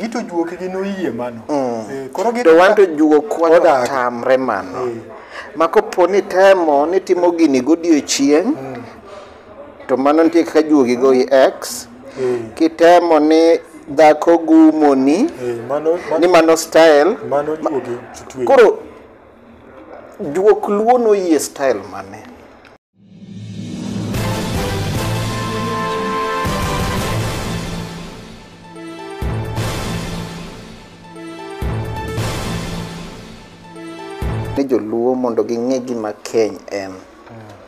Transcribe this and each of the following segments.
gito juoke gi noyie mano mm. eh, koro gito wanto juok wata tamre mano eh. ma kopo ni temo ni timo gini godiechieng mm. to mano nitie kaka juogi go i x eh. kitemo ni dhako gumoni eh, mano, mano, ni mano style mano juogi koro juok luo noyie style mane ni joluo mondo ging'e gima keny en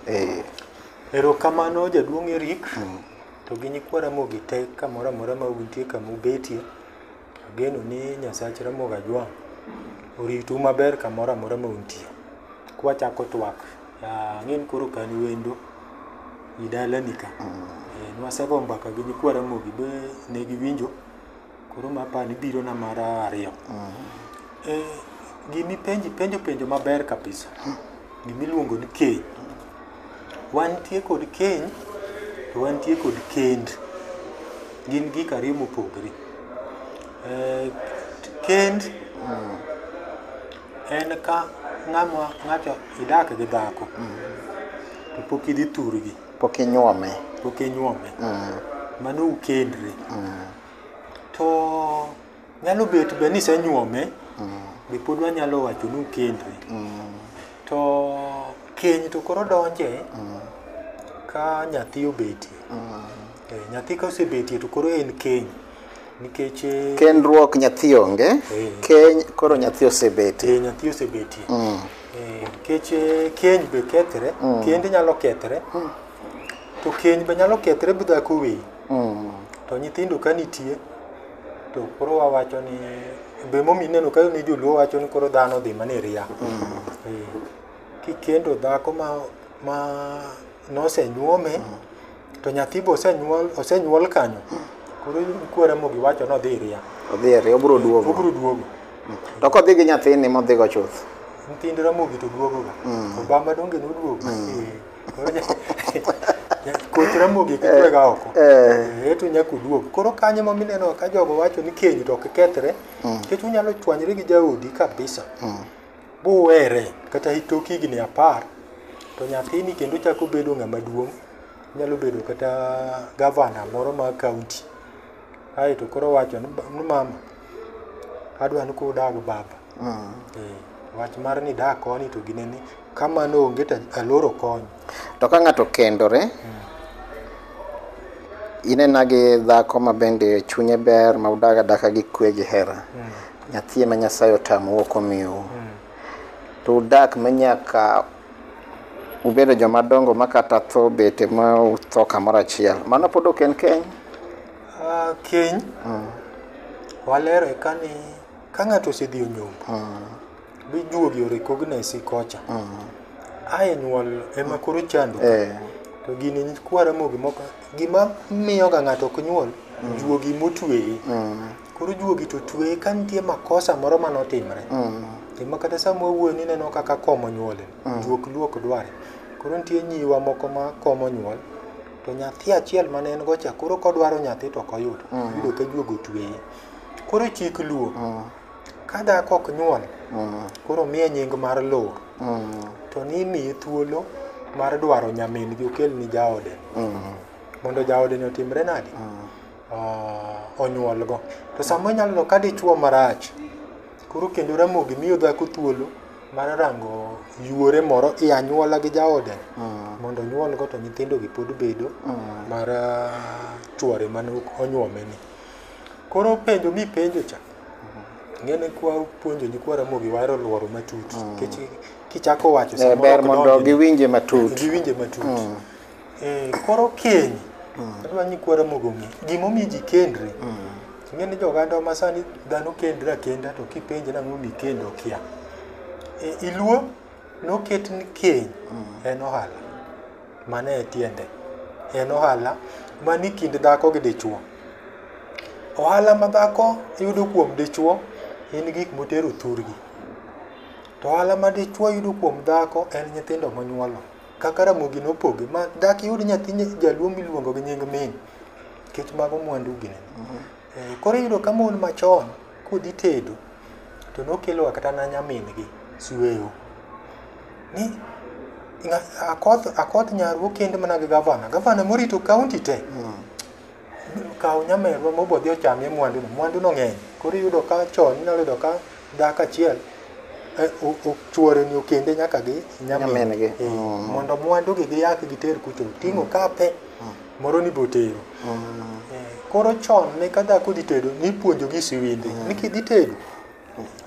Eh, Erokamano jaduong' Eric to gi nyikwa Ramogi te kamoro amora ma untie kama ubetie. Ageno ni Nyasach Ramogi Ajwang' oritu maber kamoro amora ma untie. Kwachako twak, ah, ang'e ni koro ok an wendo i dalani ka. Eh, Nwasegoyo mbaka gi nyikwa Ramogi be ne giwinjo, koro ma apani birona mar ariyo. Eh, gimipenji penjo penjo maber kabisa, gimiluongo ni keny. Wantie kod keny to wantie kod kend. Gin gik ariyo mopogore. Eh, kend en ka ng'ama ng'ato idak gi dhako to pok idhi thurgi, Pok inyuome. pok inyuome. Mano ukendre. To Nyalo bet be ni senyuome mm. be pod wanyalo wacho ni ukendri. Mm. To keny to koro donje mm. ka nyathi obetie. Mm. Eh, nyathi ka osebetie to koro en keny. Nikech eh, kendruok nyathi onge, eh. keny koro nyathi osebetie. Eh, nyathi osebetie. Mm. Eh, nikech eh, keny be kethre, mm. kend nyalo kethre. Mm. To keny be nyalo kethre bidhako weyi. Mm. To nyithindo ka nitie to koro wawacho ni be momi ineno ka ni joluo wacho ni koro dhano odhi mana e ria. Eh, Kikendo dhako ma ma nosenyuome to nyathi be osenyuol osenyuol kanyo koro kwere mogi wacho ni odhi e ria. Odhi e ria obiro duogo. Obiro duogo. To kodhi gi nyathini modhigo chuth. Nyithind Ramogi to duogoga. Obama donge noduogo. Eh. koth ramogi kitwega oko Eh, to nyaka uduog koro kanyo ma mineno ka jogo wacho ni keny to ok kethre nikech unyalo chwanyre gi jaodi kabisa buwere kata itok higni apar to nyathini kendo chako bedo ng'ama duong' nyalo bedo kata gavana moro ma kaunti aeto koro wacho ni ba- ni mama adwa ni kudag baba Mm. Eh, wach mar ni da koni to gine ni kamano onge to aloro kony to ka ng'ato kendore mm. inena gi dhako ma bende chunye ber ma udaga daka gi kwe gi hera mm. nyathi ma nyasaye otamu ok omiu mm. to udak ma nyaka ubedo joma dongo ma kata tho bete ma utho kamoro achiel mano pod ok en keny uh, keny mm. walero eka ni Ka ng'ato osedhi onyombo, uh. be juogi o recognize kocha. Uh. Ae nyuol ema koro chando. Eh. To gini kwara mogi moko gima miyo ga ng'ato ok nyuol mm. juogi motweye. Mm. Koro juogi to tweye ka nitie makosa moro mane otimre. Mm. Ema kata sama wuoyo ni neno kaka komo nyuole. Mm. Juok luok dware. Koro nitie nyiwa moko ma komo nyuol. Mm. to nyathi achiel mane en gocha koro kodwaro nyathi to ok oyudo mm. yudo ka juogo tweye Koro chik luo. Mm. Ka dhako ok nyuol, mm. koro miye nying mar luo. Mm. To ni imiye thuolo mar dwaro nyamin gi okel ni jaode. Mm. Mondo jaode ni otimre nadi? Mm. Uh, onyuol go. To sama inyalo no ka dichuo marach, koro kendo ramogi miyo dhako thuolo mar rango yuore moro i anyuola gi jaode mm. mondo onyuol go to nyithindo gi pod bedo mm. mar uh, chuore mane onyuome ni. Koro penjo mi penjo cha. Ngene kwa puonjo ni kwa ramogi waro lworo matut. Mm. Kech kichako wacho eh, samoro. Ber mondo giwinje matut. Giwinje matut. Mm. Eh, koro keny. Mm. Adwa ni kwa ramogi ong'e. Gimomi ji kendre. Mm. Ngene jo ganda ma sani dhano kendra kenda to kipenje na ng'omi kendo kia. E, iluo noket ni keny mm. en ohala. Mano e tiende. En ohala mani kind dhako gi dichwo. Ohala ma dhako yudo kuom dichwo en gik motero thurgi. To ohala ma dichwo yudo kuom dhako en nyithindo monyuolo. Kaka Ramogi nopoge ma dak iyud nyathi jaluo miluongo gi nying min nikech mago mwandu gi. Eh, koro iyudo ka mon machon kodhi tedo to nokeloga kata na nyamingi sueyo ni akoth akoth nyaru okend mana gi gavana gavana morito kaunti te mm. kaw nyamerwa mobodhi ochamie mwanduno mwanduno ng'eny koro iyudo ka chon inyalo yudo ka dak achiel eh, chuoreni okende nyaka gi nyamingi eh, mm. mondo mwandugi giyak giter kucho ting'o mm. kape moro ni botero Eh, koro chon ne ka dhako dhi tedo nipuonjogi siwinde ni kidhi tedo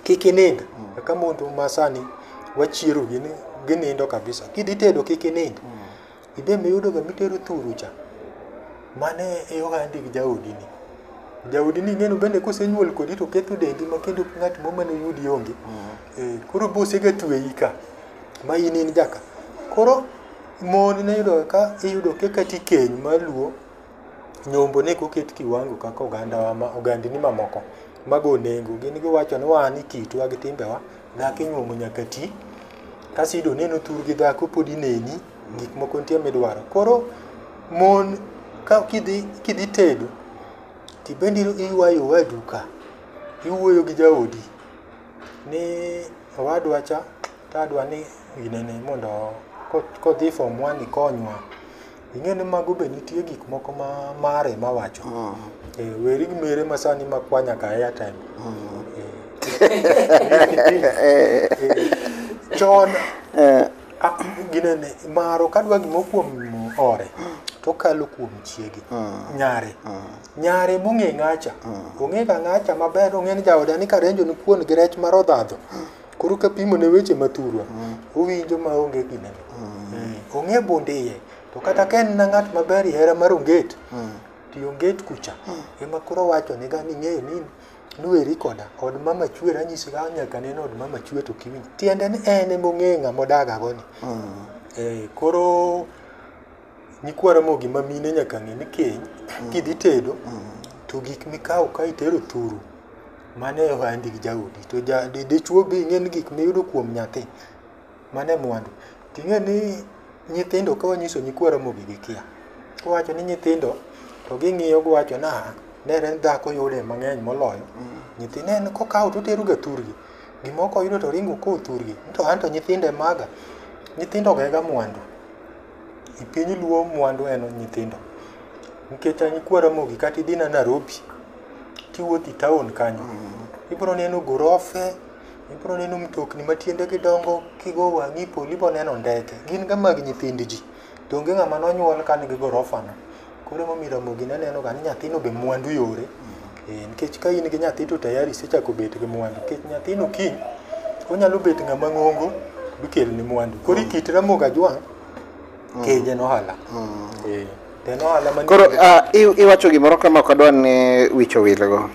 kik inind kaka mondo masani wachiero gini ginindo kabisa kidhi tedo kik inind ibe miyudoga mitero thuru cha mane e ohandi gi jaodini jaodini ing'eno bende kosenyuol kodi to ketho dendi ma kendo ng'at mo mane yudi onge Eh, koro bosega tweyi ka ma in in jaka koro Mon ne yudo ka iyudo ka kata ikeny mar luo, nyombo ne koket kiwango kaka ogandawa ma ogandni mamoko mago nengo. Gin giwacho ni wan e kitwa gi timbewa, dhako inyuomo nyaka ti. Kasto iyudo ni en otur gi dhako pod ineni, gik moko nitie midwaro. Koro mon ka kidhi kidhi tedo, tibende iywayo owadu ka, iwuoyo gi jaodi ni owadwa cha Ka adwa ni ginene mondo kodhi e form one ikonywa, ing'e ni mago be nitie gik moko ma mare ma wacho. Mm. Eh, weri gi mere ma sani ma kwa nyaka airtime. Mm. Eh. Chon eh. ah, ginene maro kadwa gimo kuom ore to kalo kuom chiege mm. nyare mm. nyare mong'e ng'acha mm. ong'e ka ng'acha maber ong'e ni jaoda ni karenjo ni kuon gi rech mar odhadho koro kapimo ne weche ma thurwa owinjo ma onge gine Eh, ong'e bund iye to kata ka en na ng'at maber hera mar onget ti onget kucha ema koro wacho ni gani ng'eyo ni nuweri koda od mama chwer anyisi ka nyaka neno od mama chwer to kiwinj tiende ni en ema ong'eyo ng'ama odagagoni Eh, koro Nyikwa Ramogi ma mine nyaka ng'e ni keny kidhi tedo to gik mikawo ka itero thuru mano e ohandi gi jaodi to ja- di- dichwo be ing'e ni gik miyudo kuom nyathi mano e mwandu to ing'e ni nyithindo ka wanyiso nyikwa Ramogi gikia kowacho ni nyithindo to ging'iyo giwacho ni "Ah, nere en dhako yude mang'eny moloyo nyithindo en kokawo to oteroga thurgi gimoko oyudo to oringo kowo thurgi to an to nyithindo e maga nyithindo ogega mwandu E piny luo mwandu en nyithindo. Nikech an nyikwa Ramogi kata idhi na Narobi, kiwuotho e taon kanyo, ibiro neno gorofe, ibiro neno mtokni ma tiendegi dongo, kigo wang'i polo ibiro neno ndeke. Gin ga mag nyithind ji. To onge ng'ama nonyuol ka nigi gorofano. Koro emomiyo Ramogi ne neno ga ni nyathino be mwandu yore. Eh, nikech ka in gi nyathi to tayari isechako bet gi mwandu. Nikech nyathino kiny onyalo bet ng'ama ng'ongo bikelni mwandu. Koro ikit Ramogi Ajwang' keje nohala. Eh, to en ohala manie- Koro ah, i- iwacho gimoro kama ok adwar ni wich owilgo.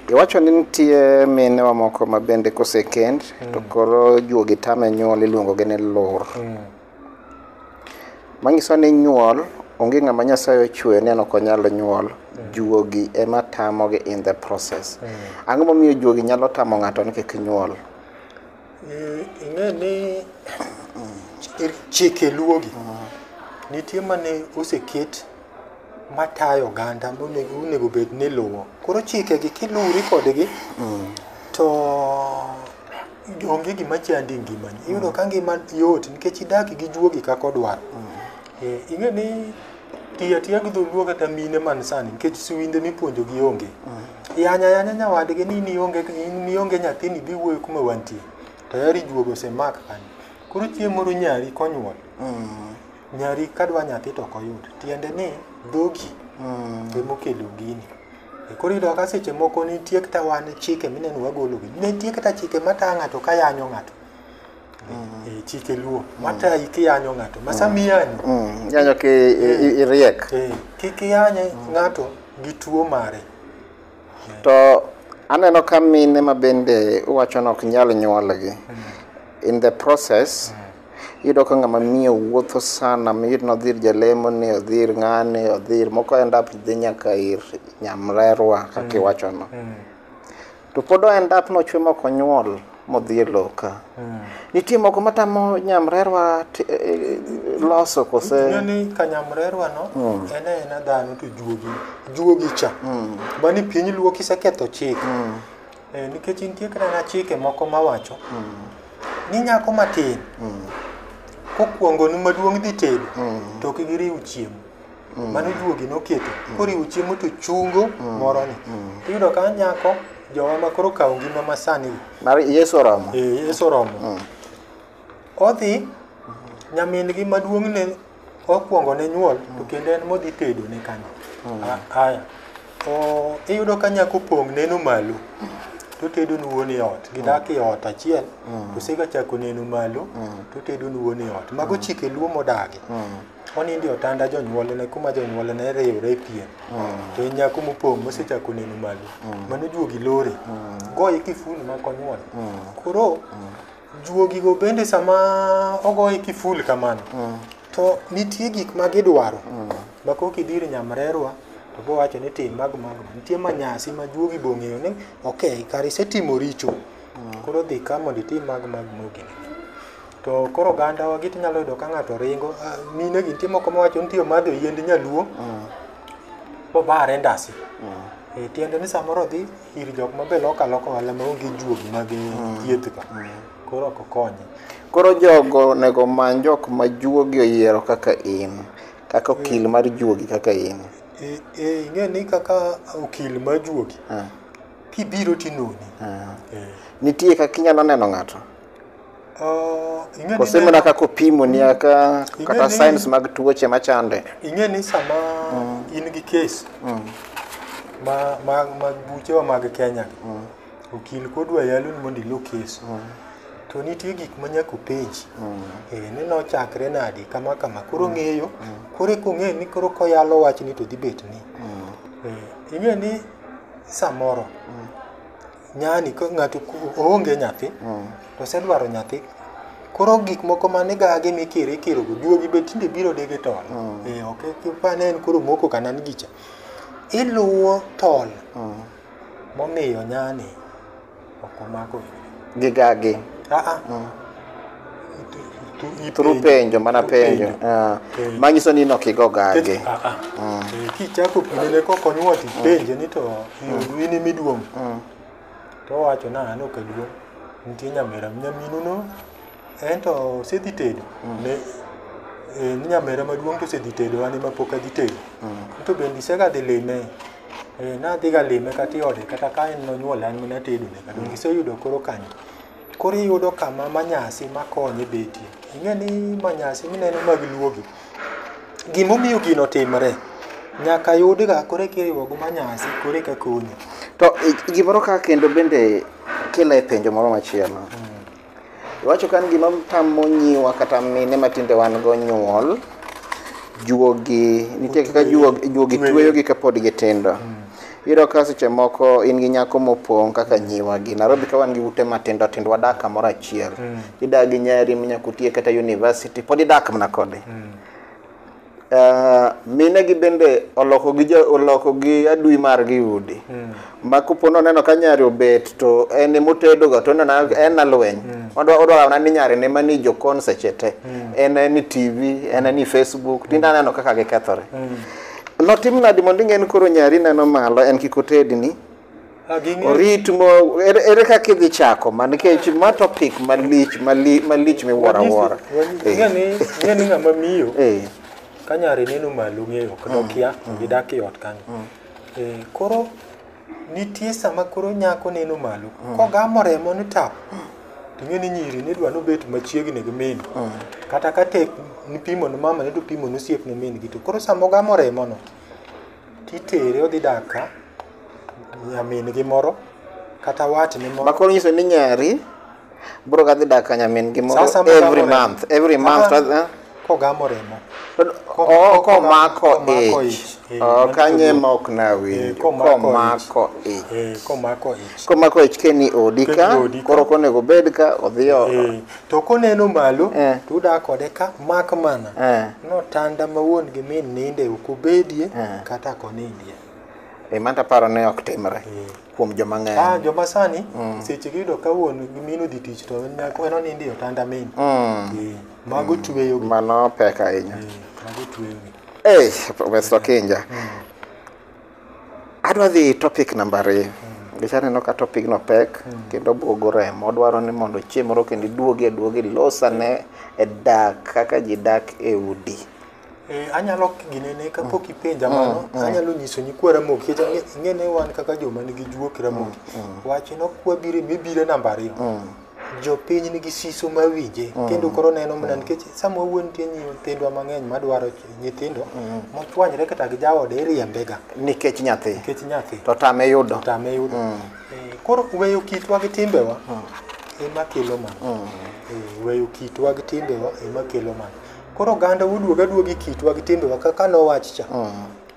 Iwacho ni nitie minewa moko ma bende kosekend to koro juogi tame nyuol iluongogi ni lur. Manyiso ni nyuol onge ng'ama Nyasaye ochwe ni an ok onyal nyuol. Juogi ema tamogi in the process. Ang'o momiyo juogi nyalo tamo ng'ato ni kik nyuol? Eh, ing'e ni chi- chike luogi nitie mane oseket matayo oganda monego onego bed ni luwo koro chikegi kiluwri kodgi to onge gima chandi e ngimani iyudo ka ngima yot nikech idak gi juogi kaka odwaro Eh, ing'e ni tiyo atiya gi dholuo kata mine man sani nikech siwinde mipuonjogi onge yanya yanya nyawadgi ni in ionge in ionge nyathini bi wuoyo kuma wantie tayari juogo osemak kanyo koro chieng' moro nyari konyuol nyari kadwa nyathi to ok oyud tiende ni dhogi emokelo gini Koro iyudo kaka seche moko nitie kata wan chike mineno wagologi. Nitie kata chike mata ng'ato ka yanyo ng'ato. Mm. Eh, chike luo mm. mata ikiyanyo ng'ato ma sama mm. iyanyo yanyo ki eh. iriek eh, kik iyanye ng'ato gi tuo mare to aneno ka mine ma bende uwacho ni ok nyal nyuolgi in the process Iyudo ka ng'ama miyo wuotho sana miyud ni odhir jalemo ni odhir ng'ani odhir moko end up dhi nyaka ir nyamrerwa kaka mm. iwachono mm. to pod end up nochwe moko nyuol modhi e loka mm. nitie moko matamo nyamrerwa e, e, loso kose ni ka nyamrerwa no mm. en ena dhano to juogi juogi cha mm. bani piny luo kiseketho chik mm. Eh, nikech nitie kata chike moko mawacho ni nyako matin kokuongonu maduong' dhi tedo to ok giriw chiemo mano juogi noketo koriwo chiemo to chungo moroni tiyudo ka nyako jowa ma koro kawo ngima masani mar yesu oromo eh, yesu oromo odhi nyamin-gi maduong' ne Okwongo ne nyuol to kendo en modhi tedo ne kanyo. A- Aya. O iyudo ka nyako pong' neno malo. To tedo ni wuon e ot. Gidak e ot achiel. To sega chako neno malo. To tedo ni wuon e ot. Mago chike luo modagi. Onindo e otanda jonyuolne kuma jonyuolne riwre e pien. To en nyako mopong' mosechako neno malo. Mano juogi lore. Goye kifuni ma konyuol. Koro Juogigo bende sama ogoye kiful kamano, to nitie gik ma gidwaro. Ma kok idir nyamrerwa, to bowacho ni tim mag mag. Nitie manyasi ma juogi bong'eyo ni, okay, kare isetimo richo. Koro dhi ka mondo itim mag mag mogik. To koro oganda wa giti nyalo yudo ka ng'ato ringo, ah, mine gi nitie moko mawacho ni nitie omadho yiend nyaluo, bobare ndasi. Eh, tiende ni samoro odhi ir jok mabe loko aloka ohala maonge juogi mag mm. thiethgo mm. koro ok okonye koro jogo onego omany jok ma juogi oyiero kaka in kaka eh. okil mar juogi kaka in eh, eh, ing'e ni kaka okil mar juogi kibiro tinoni nitie kaka inyalo neno ng'ato Uh, ing'e ni Kose mana kaka opimo ni aka Ing'e kata ni- signs mag tuoche machande. ing'e ni sama in gi kes ma, ma, mag buchewa mag kenya okil kodwa yalo ni mondo ilo kes to nitie gik ma nyaka openji eh, ni nochakre nadi kama kama koro ng'eyo koro eka ong'e ni koro koyalo wachni to dhi bet ni eh, ing'e ni samoro Nyani ka ng'ato ku- oonge nyathi to osedwaro nyathi koro gik moko mane gage mikiro ikiro go juogi be tinde biro dege tol eh ok kipane en koro moko kana ni gicha iluwo tol momiyo nyani ok omako gigagi aa through penjo mana penjo Ah. Penjo. manyiso ni nokigo gage Ah, ah. Eh, kichako pinene kok onyuol to ipenje ni to eh, in imiduong' to owacho na an ok aduong' nitie nyamera nyaminuno en to osedhi tedo ne eh, ni nyamera maduong' to osedhi tedo an ema pok adhi tedo to bende isega dhi lime Eh, nadhiga lime kata iode kata ka en nonyuola an mana tedone kata iseyudo koro kanyo Koro iyudo kama manyasi makonye betie. Ing'e ni manyasi mineno mag luogi, gimomiyo gino timre, nyaka yudga koro eka iriwo gi manyasi koro eka konyi. To i- gimoro ka kendo bende kelo e penjo moro machielo. Iwacho ka ni gima tamo nyiwa kata mine ma tinde wan go nyuol, juogi, nitie kaka juogi, juogi Tueyo. tueyogi kapod gitindo. Iyudo ka seche moko in gi nyako mopong' kaka nyiwa gi Nairobi ka wan gi ute matindo tindo wadak kamoro achiel. Mm. Idak gi nyari minyako tiye kata university pod idak mana kode. Mm. Uh, mine gi bende oloko gi jo, oloko gi adui mar gi udi. Mm. Ma kupo no neno ka nyari obet to en motedo ga to neno en na lweny. Mm. Odwa odwa na ni nyari ne mani jo kon seche te. Mm. En ni TV, en ni Facebook, tinda neno kaka gikethore. Mm. Notim nadi mondo ing'e ni koro nyari neno malo en kik otedni? Ah, ging'e- Orit mo ere, ere kaka idhi chako ma nikech ma topic malich mali, malich miwuoro awuora. Wanyisi- Ing'e ni ing'e ni ng'ama miyo Eh. ka nyare neno malo ng'eyo kendo kia gidak e ot kanyo. Eh, Koro Nitie sama koro nyako neno malo, mm. kogamo remo ni tap, to ing'e ni nyiri ni dwa nobet machiegni gi min. Mm. Kata ka tek nipimo ni mama ni to pimo ni osiep ni min gi to koro sama ogamo remo no, titere odhi dak ka nyamin gi moro kata watne moro. Makoro nyiso ni nyari bro kadhi dak ka nyamin gi moro Sasa mugamo every remo. month every month Ah. to- eh? kogamo remo To- Ko- oh, ko- komako komako ich ich. Eh, Oh, mano kanye to- ma ok Eh, nawinjo komako komako ich Eh, komako ich komako ich keni odi ka Keni odi ka. koro konego obed ka odhi oko Eh, to koneno malo Eh. to uda kode ka mak mana Eh. notanda ma wuon gi min ninde ok obedie Eh. kata konindie Eh, manta paro ne ok timre kuom joma Ah, ng'eny joma sani seche giyudo ka wuon gi min odhi tich to en nyako en onindo e otanda min. Eh, Mago tweyogi. mano pek ahinya Eh, Mago tweyogi. Hey, Professor Kinja. Adwa dhi topic namba ariyo. Nikech aneno ka topic no pek kendo buogo remo. Dwaro ni mondo chieng' moro kendo iduogi aduogi losane e dak kaka ji dak e udi. Eh, anyalo ginene kapok mm. ipenja mm, mano mm. anyalo nyiso nyikwa ramogi ing'ene wan kaka joma nigi juok ramogi wachno kwabire mibire namba ariyo jopiny nigi siso ma winje kendo koro neno mana nikech sama wuon tie nyithindwa mang'eny madwaro nyithindo mochwanyre kata gi jaode iriembega nikech nyathi nikech nyathi to tame yudo tame yudo eh, koro weyo kitwa gi timbewa ema kelo mana eh, weyo kitwa gi timbewa ema kelo mana Koro oganda wuduoga duogi kitwa gi timbewa kaka nowach cha.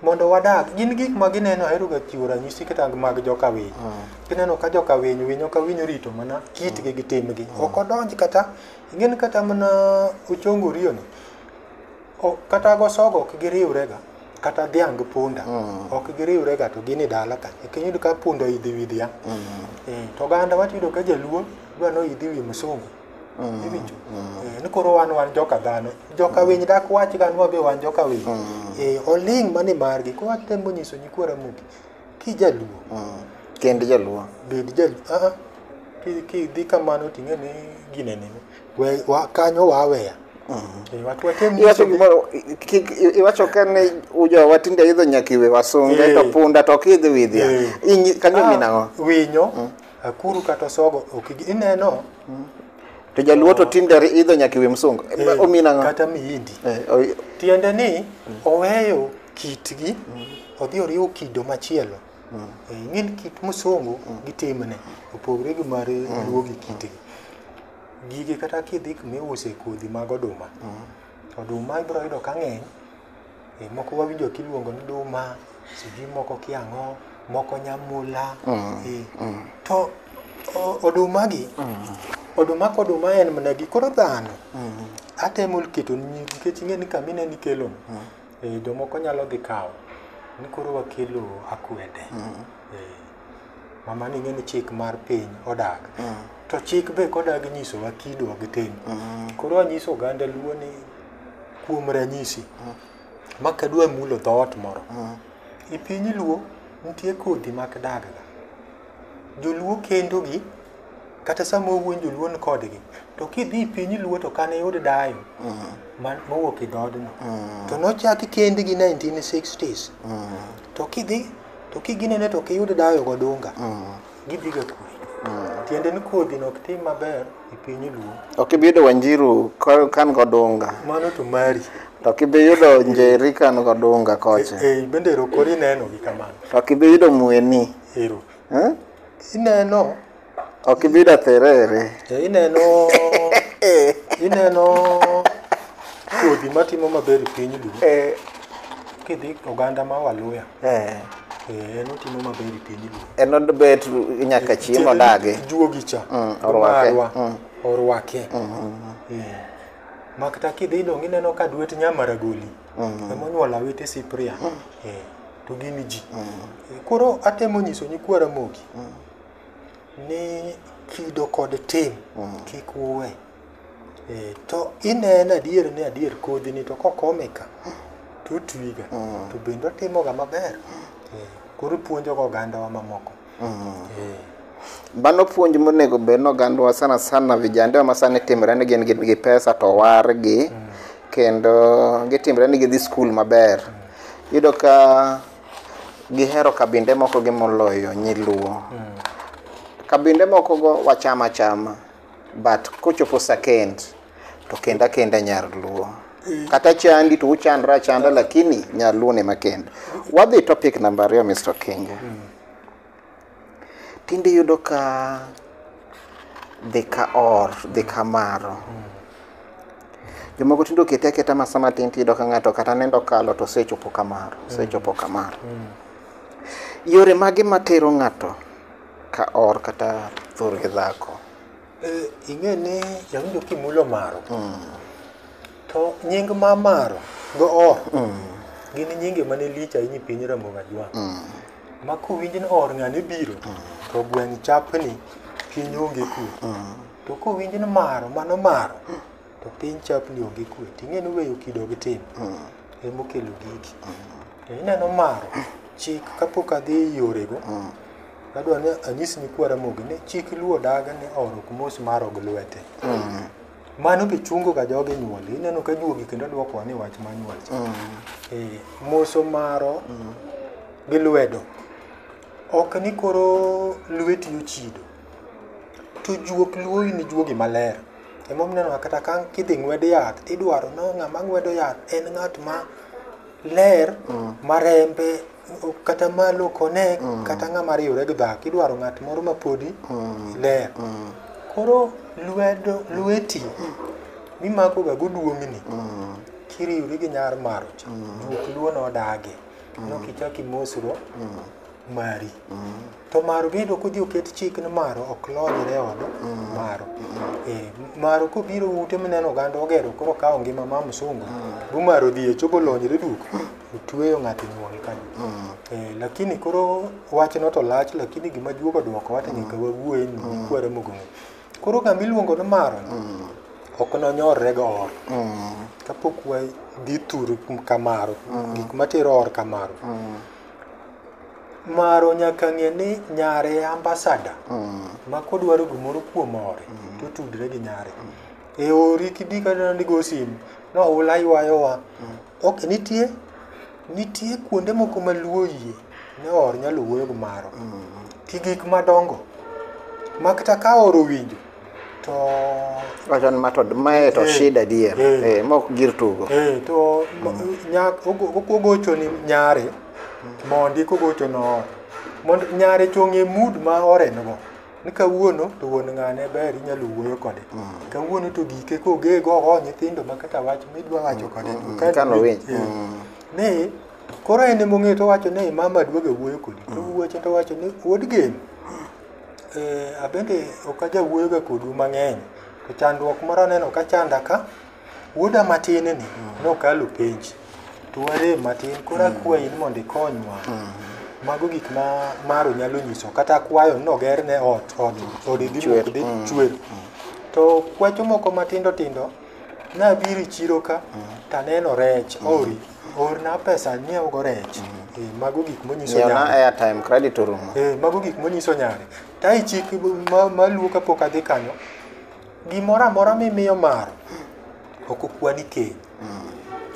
Mondo wadag, gin gik ma gineno ahero ga chiwo ranyisi kata mag joka winy. Gineno ka joka winy winyo ka winyo rito mana kitgi gi timgi. Ok odonj kata, ing'eni kata mana ochongo riyo ni, o- kata go sogo ok giriwre ga kata dhiang' gi punda ok giriwre ga to gin e dala ka ok iyud ka punda idhi wi dhiang' Eh, to oganda watiyudo ka jaluo dwa ni idhi wi msungu Iwinjo? Eh, ni koro wan wan joka dhano joka winy dak wach gan wabe wan joka winy Eh, oling' mani margi koro atemo nyiso nyikwa ramogi kijaluo Mm. Kend jaluo. bed jaluo aa ki- kidhi kamano ting'e ni ginene We- wa- kanyo waweya Eh, watu watem Iwacho nyisogi- gimoro i- kik i- iwacho ka ne ujo watinde idho nyakiwe wasunge Eh. to punda to kidhi widhia. Eh. Inyi kanyo Ah, minang'o? winyo Akuru kata osogo ok gi- ineno To jaluo to tinde ri- idho nyaka iwe msungu. eh, Omin ang'o? kata miindi Eh, oi- tiende ni oweyo kitgi odhi oriwo kido machielo Eh, ing'eni kit musungu gi timne opogore gi mar luo gi kitgi gigi kata kidhi kuma iuse kodhi mag oduma oduma ibiro yudo ka ng'eny Moko wawinjo kiluongo ni duma, sijui moko kia ang'o, moko nyamula. eh. To o- oduma gi, oduma koduma en mana gi koro dhano. Atemo keto ni nikech ing'e ni kamine ni kelo eh, jomoko nyalo dhi kawo ni koro wakelo akwede. Eh, Mama ni ing'e ni chik mar piny odag. To chik be kodagi nyisowa kido gi tim. Koro anyiso oganda luo ni kuom ranyisi ma kadwa mulo dhoot moro e piny luo nitie kodhi mak dagga joluo kendogi kata sama owuon joluo ni kodgi to kidhi e piny luo to kane yud dayo ma- mowuok e dhoodno to nochaki kendgi 1960s to kidhi to kiginene to ok iyud dayo godunga gidhiga kure tiende ni kodhi no ok tim maber e piny luo Ok ibi yudo Wanjiru ka- kan godunga. mano to mari To ok ibi yudo Njeri kan godunga kocha. e, e, bende ero koro ineno gi kamano To ok ibi yudo Mweni. ero Eh? ineno Ok ibi yudo Atherere. e, ineno ineno kodhi matimo maber e piny luo Eh, Kidhi oganda ma Waluya, Eh, eh, en otimo maber e piny Luo. en odbet nyaka chieng' odagi. Juogi cha. Mm, orwake. Marwa, Mm. Orwake. Eh. Makta kidhi dong' ineno ka duet Nyamaragoli. Emonyuol awete Cyprian. Eh, To gin ji. Eh, Koro atemo nyiso nyikwa Ramogi ni kido kod tim kik uwe. Eh, to ineno adier ni adier kodhi ni to kokome ka to otwiga Mm. to bende otimoga maber Eh, koro puonjoga ogandawa mamoko Eh, Mano puonj monego bed ni ogandwa sana sana vijande ma sani timre ni gin gi pesa to wargi kendo gitimre ni gidhi skul maber. Iyudo ka gihero kabinde moko gi moloyo nyiluo. Kabinde moko go wachama chama. but kochopo sakend to kenda kenda nyar luo kata chandi to uchandra chanda lakini nyar luo ne makenda wadhi topic namba ariyo mr kinga tinde yudo ka dhi ka or dhi ka maro jomoko tinde okete aketa masa matin tiyudo ka ng'ato kata nendo kalo to osechopo kamaro osechopo kamaro yore mage matero ng'ato Ka or kata thur gi dhako. Eh, ing'e ni jawinjo kimulo maro to nying ma maro go or gin nyinge mane lich ahinya e piny ramoga jwang ma kowinj ni or ng'ane biro to gweng' chapni piny onge kwe to kowinj ni maro mano maro to piny chapni onge kwe to ing'e ni weyo kido gi tim ema okelo gigi to ineno maro chik kapok adhi e yorego adwa ni anyis ni kwara mogi ni chik luo daga ni oro ok mos maro gi lwete mano be chungo ga jogi nyuol ineno ka juogi kendo dwokowa ni wach ma nyuol cha Eh, moso maro gi lwedo ok ni koro lweti ochido to juok luoyi ni juogi maler Emomiyo ineno ka kata ka kidhi ng'wed yath, idwaro no ng'ama ng'wedo yath en ng'at ma ler, ma rembe kata ma lokone, kata ng'ama riwore gi dhako. Idwaro ng'at moro ma podi ler. Koro lwedo, lweti mimakoga go duong'ni kiriwri gi nyar maro cha, juok luo nodagi. Ineno kichako imosro mari. to maro bende ok odhi oket chik ni maro ok lonyre od maro Eh, maro kobiro ute mineno oganda ogero koro kawo ngima ma msungu bumaro dhi e chobo lonyre duk otweyo ng'ato nyuol kanyo Eh, lakini koro wachno to lach lakini gima juogo dwoko wate nyaka wawuoye ni kwere mogong'e koro gama iluongo ni maro ni, ok nonyorre go or kapok wadhi thur kamaro gik matero or kamaro Maro nyaka ng'e ni nyare e ambassador. Mm. Ma kodwaro gimoro kuom ore, mm. to tudre gi nyare. Mm. E ori kidi kata ni go sim, no ula ywayo wa. Mm. Ok nitie nitie kuonde moko ma luo yie ne or nyalo wuoyo gi maro. Mm. Ki gik madongo. Makta ka oro winjo, to wachon ma to mae to Eh. shida dier Eh. eh, mok gir tugo eh, to nyak ogochoni nyare mondi kogochono ot mondo nyare chong'e mood ma orengo ni kawuono to wuon ng'ane ber inyalo wuoyo kode kawuono to gike kogego oho nyithindo ma kata wach midwa wacho kode to mm, ka- kano winj, eh, mm. ni koro en emong'eyo to wacho ni mama duoga wuoyo kodi to wuoche to wacho ni wuod geno Ee abende ok ajawuoyo ga kodu mang'eny to chandruok moro aneno ka chanda ka. Wuoda matin ni nokalo penj to warem matin koro akwayi ni mondo ikonywa. Mago gik ma Maro nyalo nyiso kata akwayo ni ogerne ot, ode dhi muki dhi chwer. To kwacho moko matindo tindo nabiro e chiro ka taneno rech ori orna pesa nyiewogo rech Eh, mago gik monyiso Nyiew na nyare airtime credit orumo. Eh, mago gik monyiso nyare tae chik ma- maluwo kapok adhi kanyo gimoro amora mimiyo maro ok okwani keny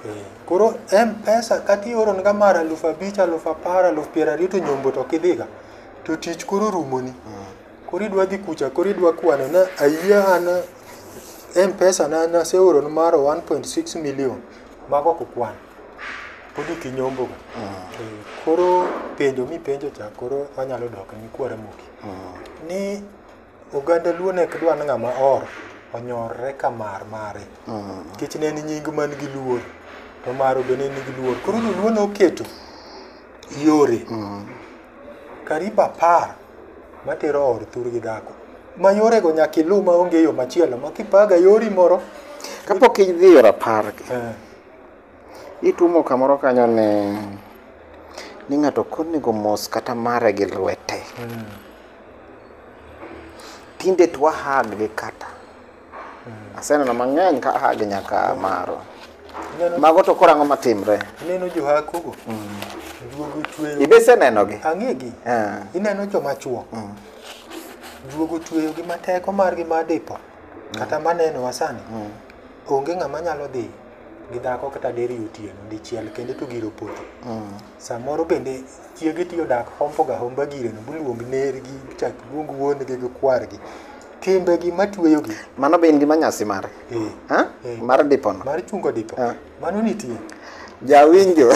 Eh, koro mpesa kata ioronga mar alufu abich alufu apar alufu piero ariyo to nyombo to ok idhiga to tich koro rumoni Koro idwa dhi kucha, koro idwa kwane na ayie an M-Pesa na naseoro ni maro 1.6 million mago ok kwan. Pod ok inyombo ga. Eh, Koro penjo mipenjo cha koro anyalo dok ni kwara moki. Ni oganda luo ne ok dwa ni ng'ama or onyorre ka mar mare. Nikech ne en nying man gi luor to maro be ne nigi luor. Koro luo noketo yore Karibu apar matero or thur gi dhako. Ma yorego nyaka iluw ma onge yo machielo ma kipaga yori moro. Kapok idhi yor apar, eh. itumo kamoro kanyo ni ni ng'ato konego mos kata mare gi lwete. Hmm. Tinde twahag gi kata. Aseneno mang'eny ka aha gi nyaka maro. Neno- Mago to korango matimre. Ineno johakogo? Juogo tweyo. Ibe isenenogi? Ang'egi. Eh. Ineno joma chuo. Juogo tweyo gi mateko margi ma dipo. Kata maneno wasani. Onge ng'ama nyalo dhi gi dhako kata deri otieno dichiel kendo to giro poto. Samoro bende chiege tiyo dak hombo ga homba gire no bluong nergi chak luong wuon gi gi kwar gi timbe gi matweyo gi mano be in gi manyasi mare eh, ha eh, mar dipo no mar chungo dipo ah. mano nitie jawinjo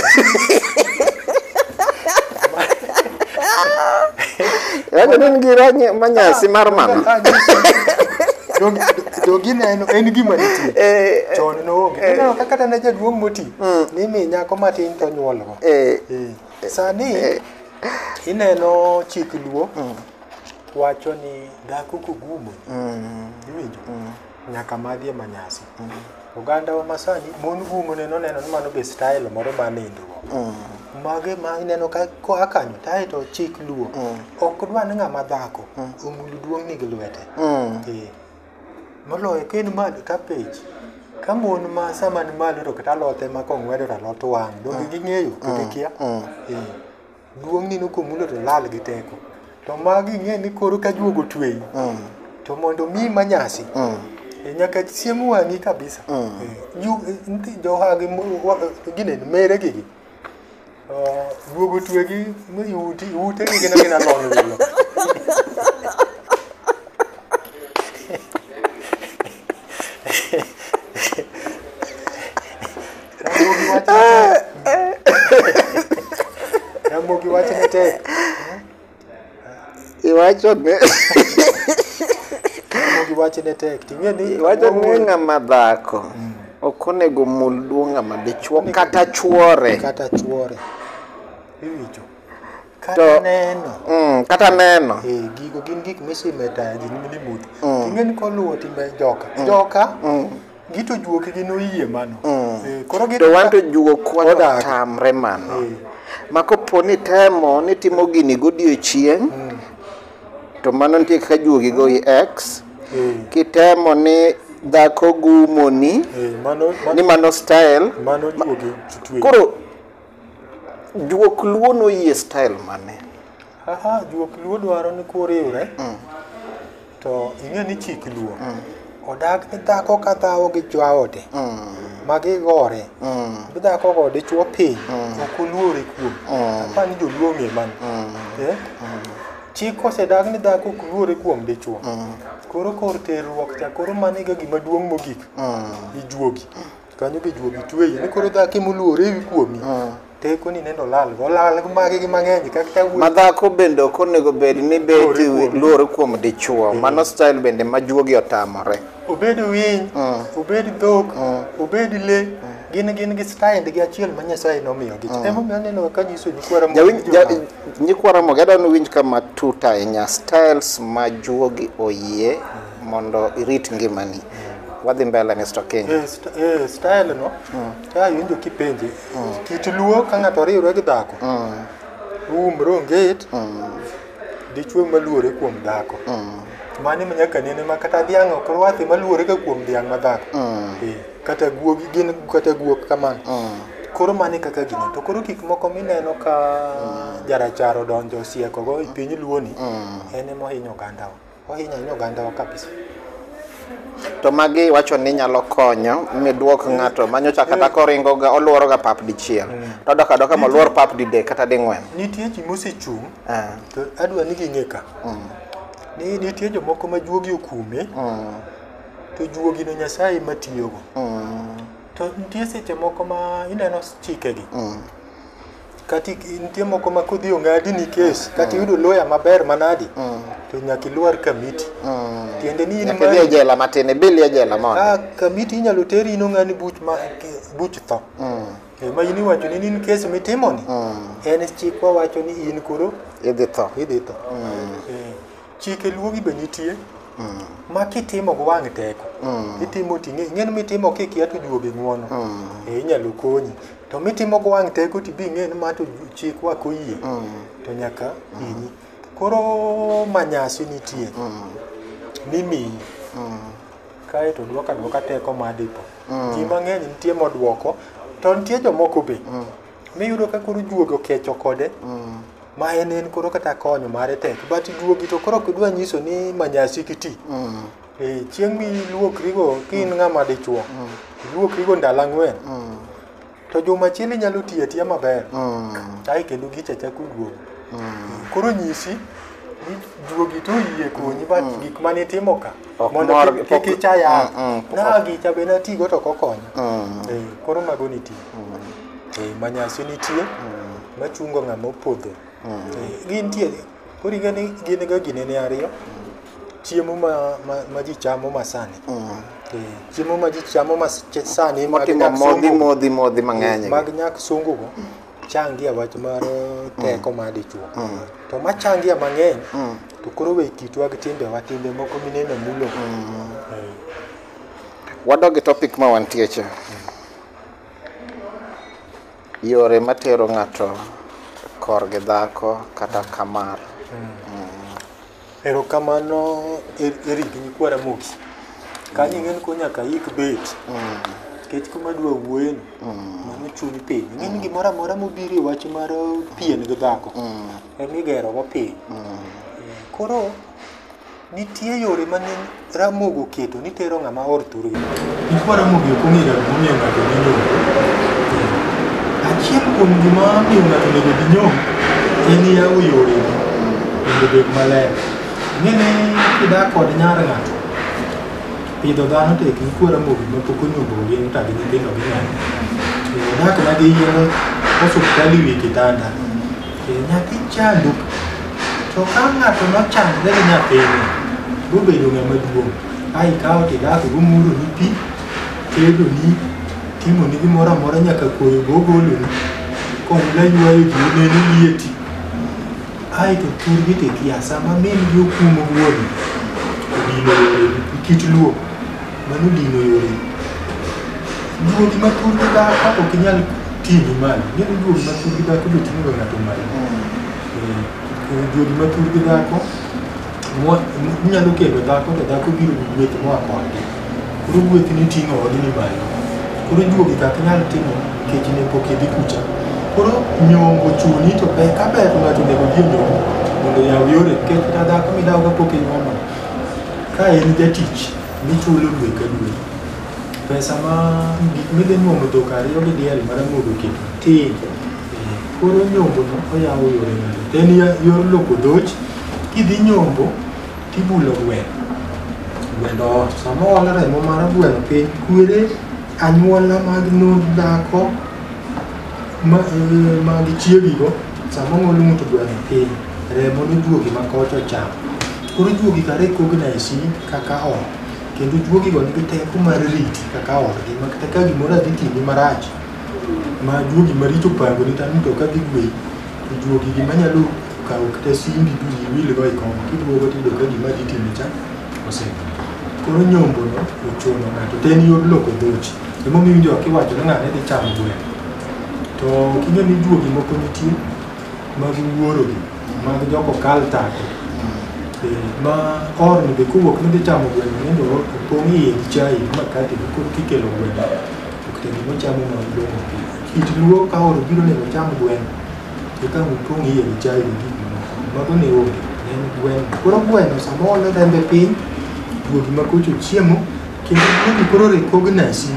Yaani ni ngi rangi manyasi ah, mar mama. Ah, jogi neno en gima nitie eh, eh, chon noonge eh. ineno kaka tane jaduong' moti Mm. ni mi nyako matin to nyuolgo Eh, Eh, sani eh. ineno chik luo Mm. wacho ni dhako kogumo Mm. iwinjo Mm. nyaka madhi e manyasi oganda wa masani mon gumo neno neno ni mano be style moro ma nindruok Mm. mage ma ineno ka koa kanyo tae to chik luo Mm. ok dwa ni ng'ama dhako omul duong'ni gi lwete Mm. Eh, Moloyo ka en malo ka pech. Ka mon ma sama ni malo to kata alot ema kong'wedo to alot wang'. Donge ging'eyo to gikia? Eh. Duong' ni komulo to lal gi teko. To magi ing'e ni koro ka juogo tweyi. To mondo mi manyasi. E nyaka chiemo wang'i kabisa. Eh, ju- eh, nti- Johagi mo- wa- gine mere gigi. Guogo twegi mi uti ute gi gina gina lony wilo. Ramogi wach ne tek. Iwacho ni Mogi wache ne tek. Ting'e ni iwacho ni ng'ama dhako ok onego mul duo ng'ama dichwo kata chwore. kata chwore. Iwinjo. Kata To- neno. Mm, kata neno. Eh, gigo gin gik misimo e tayo ji ni mudho. Ting'e ni koluwo timbe joka. Joka gito juoke gi noyie mano mm. eh, koro gito wanto juok wata tamre mano eh. ma kopo ni temo ni timo gini godiechieng mm. to mano nitie kaka juogi go i x eh. kitemo ni dhako gumoni eh, mano, mano, ni mano style mano juogi ma, koro juok luo noyie style mane aha juok luo dwaro ni koriwre mm. To ing'e ni chik luo mm. odak ni dhako ka dhawo gi jaode mm. ma gigore mm. bi dhako go dichwo piny mm. ok oluore kuom mm. apa ni joluo ng'e mano mm. eh? mm. chik osedag ni dhako ok luore kuom dichwo mm. koro kor terruok cha koro mano ega gima duong' mogik mm. ijuogi kanyo be juogi tweyi ni koro dhako ema oluore ewi kuomi Ah. teko ni nendo lal go lal magi gi mang'eny kaka ka wuoyi madhako bende ok onego bed ni beti Luore kuom- luore kuom dichuo mano style bende ma juogi otamore obed winy Mm. obed dhok Mm. obed le gin gin gi style gi achiel ma nyasaye nomiyogi emomiyo aneno ka nyiso ni kwara Jawinj- ja- nyikwara mogi adwa ni winj kama tut ahinya styles ma juogi oyie mondo irit ngimani wadhi mbele Mr. King. Eh, st eh, style no mm. ka iwinjo kipenje mm. kit luo ka ng'ato oriwre gi dhako mm. uumre onget mm. dichwe maluore kuom dhako mm. mani ma nyaka nene ma kata dhiang' ok rwathi maluore ka kuom dhiang' ma dhako mm. eh, kata guogi gin kata guok kamano mm. koro mani kaka gini to koro gik moko mineno ka mm. jarachar odonjo osiekogo e piny luoni mm. en emohinyo ogandawa Ohinyo ahinya ogandawa kabisa. To magi iwacho ni nyalo konyo midwok ng'ato manyocha kata koringo ga oluoro ga pap dichiel. To dok adoka moluor pap didek kata ding'wen. Nitie ji mosechung' Ah, to adwa ni ging'e ka. Ni nitie jomoko ma juogi okume mm, to juogino Nyasaye ema tiyogo. mm, To nitie seche moko ma ineno chikegi. mm. kati nitie moko ma kodhi ong'adi ni kes kati yudo lawyer maber manadi to nyaka ilwar kamiti tiende ni in Nyaka idhi e mari- jela matin, ibili e jela mondo. Ah, kamiti inyalo teri in ong'ani buch ma buch tho ema in iwacho ni in kes mitimoni en chikwa wacho ni in koro Idhi tho. idhi tho Eh, chike luogi be nitie ma kitimo gi wang' teko itimo ting'e ing'eni mitimo kikia to juogi ng'uono e inyalo konyi to mitimo gi wang' teko tibi ing'e ni ma to chik wak oyie to nyaka hinyi koro manyasi nitie mimiyi kae to dwoka dwoka teko madipo ji mang'eny nitie modwoko to nitie jomoko be miyudo ka koro juogi okecho kode mm. ma en en koro kata konyo mare tek but juogi to koro kidwa nyiso ni manyasi kiti mm. e, chieng' miluokrigo ka in mm. ng'ama dichuo mm. iluokrigo ndalo ang'wen mm. to juma chiel inyalo tiyo atiya maber mm. ae kendo gicha chako duogo mm. koro nyisi ni juogi to oyie konyi but mm. gik mane itimo ka mondo kik icha yath mm, mm, na gicha be natigo to kokonya mm. e, koro mago nitie mm. Eh, manyasi nitie machungo ng'ama opodho Eh, gintie koro ing'e ni gin ga ginene ariyo chiemo ma, ma, ma ji chamo masani Eh, chiemo ma ji chamo masani mag motimo nyak modhi sungu- modhi modhi mang'eny mag nyak sungugo changia wach mar eh, teko mar dichwo to ma changia mang'eny to koro we kitwa gi timbewa timbe moko mineno mulo Eh, wadog e topic ma wantie cha Yore matero ng'ato kor gi dhako kata kamar. Erokamano Er- Eric Nyikwa Ramogi. Kanyo ing'eni ko nyaka ik bet. Nikech kuma adwa wuoyeni, mano chuni piny. Ing'eni gimoro amora mobiro e wach mar pien gi dhako, en igerogo piny. Koro Nitie yore ma ne Ramogi oketo ni tero ng'ama or thurgi. Gik ma Ramogi ok ong'eyo gima omiyo ng'ato dhi nyombo. Achiel kuom gima miyo ng'ato onego dhi nyombo en yawo yore mondo obed maler. Ing'e ni kidak kod nyar ng'ato, pidho dhano tek nikwa Ramogi ma pok onyombo gin ka gi nyithindo gi nyare. Odak mana gi yien osuptal e wi kitanda. Nyathi chando, to ka ng'ato nochandre gi nyathine, bobedo ng'ama duong', ka ikawo tidako gomuroni pi, tedoni, timoni gimoro amora nyaka koyo gogoloni, konyla ywayo ji oneni lieti. Ae to thurgi tikia, sama min gi okumo wuon, odino kit luo. Mano dino yore. Duogi ma thur gi dhako ok inyal ting'i malo. Ng'eyo ni duogi ma thur gi dhako be ting'o ng'ato malo. Eh, eh, Duogi ma thur gi dhako mo- mo- inyalo kendo dhako to dhako biro gi gueth moa kodgi. Koro gueth ni ting'o odni malo. Koro duogi kak nyal timo nikech ne pok idhi kucha. Koro nyombo chuni to ber ka ber to ng'ato onego odhi e nyombo mondo oyaw yore nikech kata dhako midawogo pok inyuomo. Ka en jatich Gichulo dwe ka dwe. Pesa ma gik midhi nyuomo dhok ariyo gi diel ma ramogi oketo tin. Koro nyombono oyawo yore mage? To en ya- yor loko dhoch, kidhi nyombo tibulo gweno. Gweno ot. Sama ool remo mar gweno piny, kwere anyuola mag nond dhako ma eh, mag chiegigo sama ong'ol ng'ut gweno piny. Remo nojuogi ma koch ochamo. Koro juogi kare cognise kaka ot. Kendo juogigo nigi teko mar riti kaka odgi ma kata ka gimoro adhi timi marach ma juogi maricho pango ni tani to ka dhi gweyi to juogi gima nyalo kawo kata simbi to iwilgo e kom kiduogo tiyudo ka gima dhi timi cha osedhi. Koro nyombono ochuno ng'ato to en yor loko dhochi. Emomiyo iwinjo ka iwacho ni ng'ane dhi chamo gweno. To king'e ni juogi moko nitie mag wuorogi mag joko kal take Eh, ma orni be kowuok ni dhi chamo gweno nende o- opong' iye gi chai gi makati gi kod kikelo gweno ok te gima ochamo ma odong' pi kit luo ka oro biro nego ocham gweno to ka opong' iye gi chai gi gik mamoko mago ne onge ne en gweno koro gweno sama oolo rembe piny guogi ma kocho chiemo kendo guogi koro recognize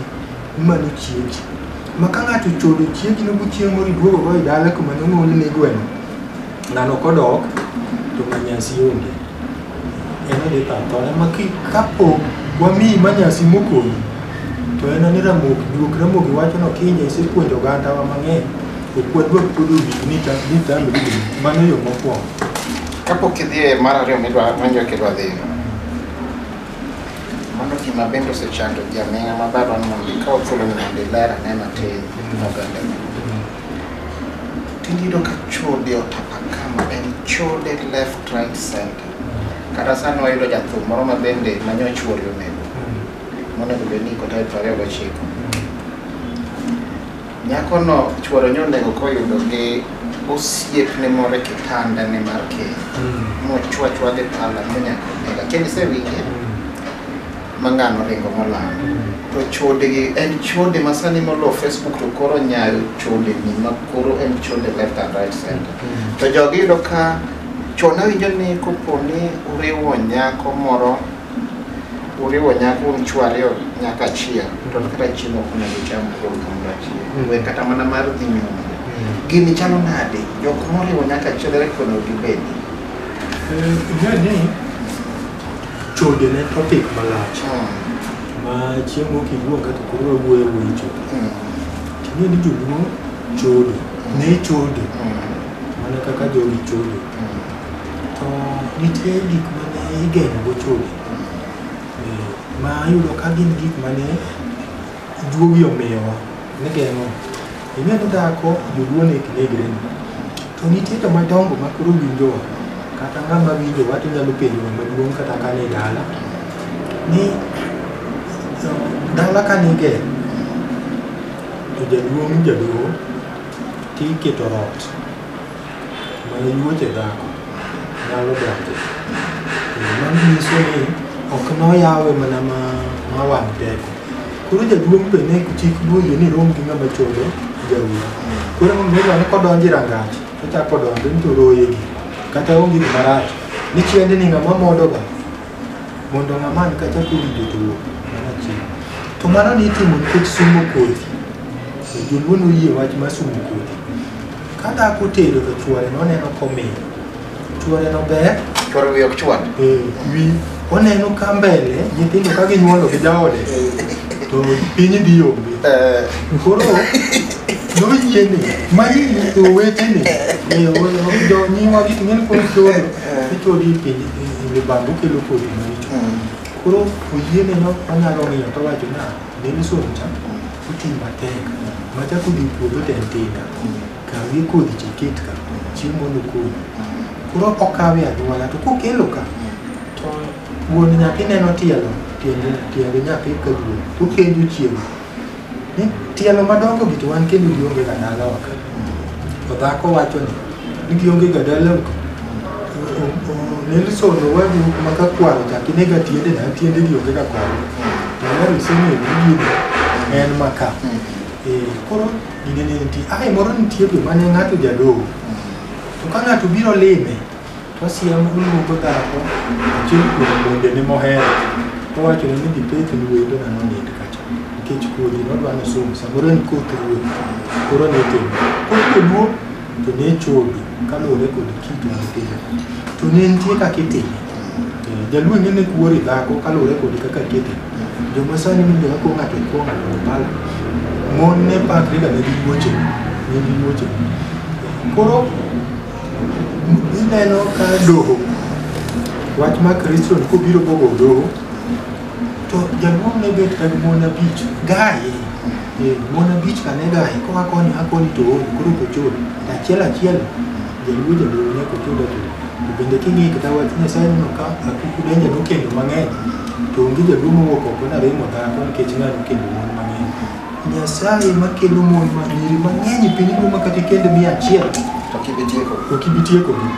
Mano chiegi. Ma ka ng'ato chodo chiegi no gochieng' moro iduogo go e dala kuma nonyuol ne gweno. Ng'ano kodok to manyasi onge. En odhi tho athona ma ki- kapo wamiyi manyasi mokonyi to en ani ramogi duok ramogi wacho no kinye isepuonjo ogandawa mang'eny ok wadwar pod owinj ni ta- ni tamri gini. mano yo mokwongo kapok idhi e mar ariyo midwa manjo kidwa dhiyo Mano gima bende osechando jaming'a ma barwa ni mondo ikaw thuolo ni mondo iler ane matin oganda. Tinde iyudo ka chode otapa kama en chode left right center. Kata sani wayudo jathum moro ma bende ma nyoch wuori onego. Monego bed ni iko tarik piero ariyo gochiko. Nyakono chuore nyonego koyudo gi osiepne moro e kitandane mar keny mochwachwa gi pala ma nyaka onega kendo isewinje ma ng'ano ringo molal to chodegi en chode ma sani molo facebook to koro nyayo chodeni ma koro en chode left and right center to jogi iyudo ka chon awinjo ni kopo ni uriwo nyako moro uriwo nyako un chwo ariyo nyaka achiel to kata chiemo ok onego ucham kuom kamoro achiel we kata mana mar dhi nyombo gini chalo nade jok moriwo nyaka achiel ere kaka onego gibedi Ngani chode ne topic malach ma chieng' moko iwuok kata koro wawuoyo wuoyo chode. Ting'e ni joluo chode, ne chode mana kaka jogi chode. To nitie gik ma ne igeng'ogo chode eh, ma yudo ka gin gik ma ne juogi omiyowa nigeng'o. Ing'e ni dhako joluo ne ok negre ni. To nitie joma dongo ma koro winjowa kata ng'ama winjowa to nyalo penjo ng'ama duong' kata ka ni dala ni to dala ka niger to jaduong' jaduong' tiketo ot Manyuoche dhako nyalo donjo. Mano nyiso ni ok noyawe mana ma ma wang' teko. Koro jaduong' be ne chik boyie ni rom gi ng'ama chodo jaudi. Koro mondo mi ne kodonjo e rangach, ochako donjo ni to roye gi. Kata onge gima rach. Ni chiende ni ng'ama modoga Mondo ng'aman ka chako winjo to wuok mana chieng'. To mano ni itimo nikech sumo kodhi. To Joluo noyie wach mar sumo kodhi. Ka dhako otedo to chuore noneno komiyo. Chuore no ber Chwar wiye ok chwar. eh, wi oneno ka mbele nyithindo ka ginyuolo gi jaode to piny dhi yombe. Eh, Koro noyie ni magi owete ni eh, o- o- jonyiwa gik ng'eni koro chodo ichodi e piny Be bando kelo kodhi maricho. Koro oyiene no onyalo ng'iyo to wacho na Nelson cha oti matek. Macha kodhi puodho te ntinda. Kawi kodhi cha ket ka. Chieng' mondo kodhi. Koro okawe anyuola to kokelo ka to wuon nyathi neno tielo tiende tiende nyathi ka duong'. Okenjo chieng'. Eh, tielo madongo gi to wan kendo gionge ga dalawa ka to dhako wacho ni ni gionge ga dalawa ka Nelson Owadu ma ka kwaro chak ine ga tiende na tiende gionge ga kore to ler iseng'eyo ni gini en ma ka Eh, koro gine ne nitie ai moro nitie be mane ng'ato jadoho to ka ng'ato biro lime To siem oluongo dhako achiel kuom mondene mohero towachone ni dhi pekni wendo na nonind kacha nikech kodhi nodwa ni somo samoro en koth ruoth koro ne timo koro joluo to ne chodo kaluwore kod kit mar piny to ne nitie kaka itime Eh, jaluo ne ne kuori dhako kaluwore kod kaka kete joma sani ni joma kuo ng'ato kuo ng'ato opala mon ne pakre ga ne gi wuoche ne gi wuoche koro Ineno ka doho, wach ma Kristo ni kobiro bogo doho, to jaduong' ne bet kag mon abich gaye. Eh, Mon abich ka ne gaye, koa koni a koni to ool, koro ok ochul. To Achiel achiel, jaluo jaluo nyaka ochul achul. To bende king'iyo kata wach Nyasaye neno ka akuku denja nokendo mang'eny, to onge jaduong' mowuok oko naremo dhako nikech ng'a nokendo mon mang'eny. Nyasaye makelo mon ma nyiri mang'eny e piny ngima ma kata ikend mia achiel To kibitieko. to ok ibi tiekogi.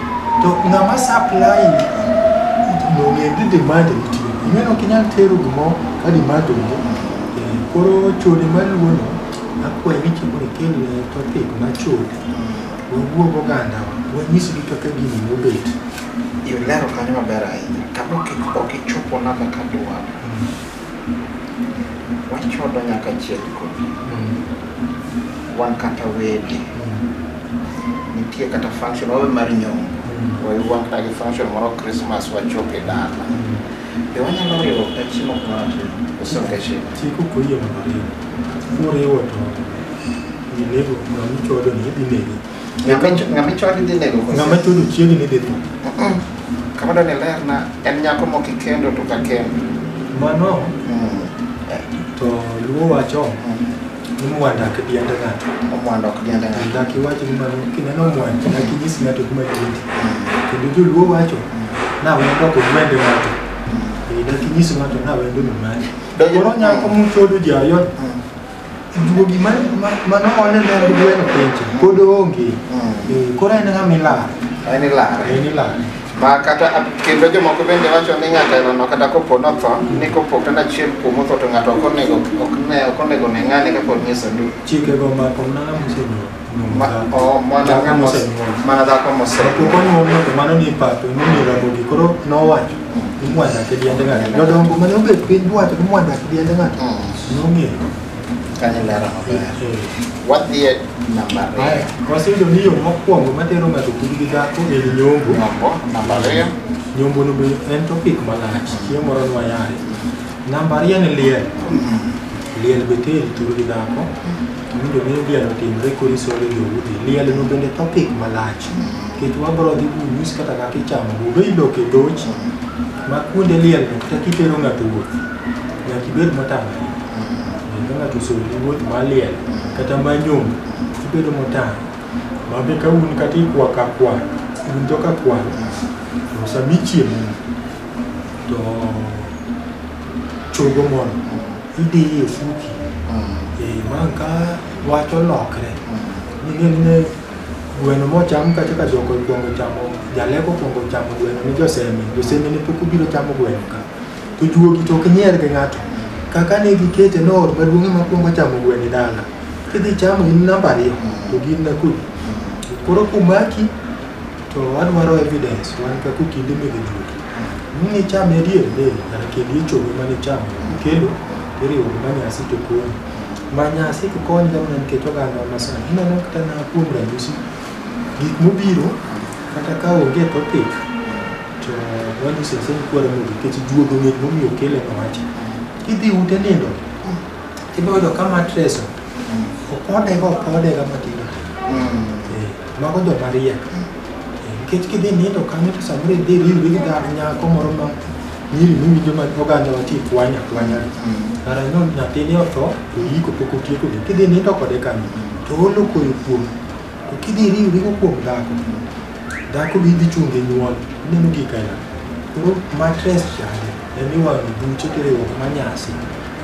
To ng'ama supply nong'e ni demand nitie. Ing'eno ok inyal tero gimoro ka demand onge. Eh, Koro chode maluwono akwayi ni chieng' mondo ikel eh, topic ma chode. Wawuog oganda wanyisgi kaka gini nobet. Ilero kanyo maber ahinya. Kama ok ok ichopo namba ka dwaro. wachodo nyaka chiel kodhi wan kata wede nitie kata function wawe mar nyombo wayuwan kata gi function moro christmas wachop e dala be wanyalo riwo ka chiemo kumoro osonge chiemo Chiko koyie mondo oriwo. Moriwo to inego ng'ama ichodo ni idhi negi. Ng'ama icho- ng'ama ichwadi dhi nego kose? Ng'ama chodo chiegi ni dhi tho. Mm-mm. Kama dwa ni lerna, en nyako mok ikendo to ka kendo. Mano Mm. to luo wacho Mm. ni mwanda ok diend ng'ato. Omwando ok diende ng'ato. Dak iwach ni mano kineno mwanda dak inyis ng'ato kuma diende. Kendo joluo wacho na wendo ok gwende ng'ato. Eh, Dak inyis ng'ato na wendo ni mani. Donjo- Koro nyako muchodo ji ayot Mm. Juogi man mano one ne en gweno penjo pod onge. Eh, Koro en ng'ama ilaro. En ilaro. En ilaro. ma kata kendo jomoko bende wacho ni ng'ato elono kata kopo notho ni kopo kata achiel kuom otho to ng'ato ok onego ok ne ok onego ne ng'ane kapod nie sanduku Chikego omako mana ng'ama osenyuol. Ma, o, mana Dhako dhako mose- mosenyuol. mana dhako mose Kapok onyuol ng'ato mano ni ipape, mano ni rabogi. Koro nowacho, imwanda ke diende ng'ato. Jodongo mane obet piny duwacho ni imwanda ke diende ng'ato. Mm, Nong'eyo. kanyo ilero maber Eh. wadhi e namba Aya, ariyo waseyudo ni yo mokwongo matero ng'ato kudu gi dhako en nyombo. nyombo namba ariyo Nyombo no be en topic malach, chieng' moro nwayaye. Namba ariyo en liel. Liel be teri turu gi dhako. Kiwinjo ni liel otimre korisore joudi, liel no bende topic malach. Kendo wabro dhi kunyis kata kaka ichamo budo iloko e dhoch ma kuonde liel no kata kitero ng'ato wuoth. Nyaka ibed motang'. Kendo ng'ato osori wuoth ma liel kata ma nyom ibedo motang'. Ma be ka un kata ikwa ka kwa, un to ka kwa, to sami chiemo to chogo mondo ideye fuki eh, man ka wach olokre ning'e ni ne gweno mocham kacha ka joko kwongo chamo jaleko kwongo chamo gweno ni joseme joseme ne pok obiro chamo gweno ka to juogi to ok nyier gi ng'ato kaka ne gikete no ot maduong' ma kwongo chamo gweno e dala kidhi chamo in namba ariyo to gin na kudi koro kumaki To adwaro evidence wan ka kukinde me gijuki. Ni chame adier ne kar kendo ichogo mane chame kendo iriwo ma nyasi to koni. Ma nyasi to koni ga mana nikech oganda ma sani. Ineno kata na kuom ranyisi gik mobiro kata ka onge topic to wani sese ni kwara mo nikech juogo ng'eny momiyo kele ma wacha. Kidhi ute nindo ibodo ka mattress opode go opode ga matindo. Mm. Mago jo mariek. Nikech kidhi nindo kanyo to samoro idhi riwri gi dhako nyako moro ma nyiri miwinjo ma oganda wati kwany akwanya. Kara no nyathini otho to yiko pok otieko gi. Kidhi nindo kode kanyo to olo koyo kuom. To kidhi riwri go kuom dhako. Dhako bi dhi chungi nyuol. Ineno gik aina. Koro matres chande. En iwang'o buche to iriwo ma nyasi.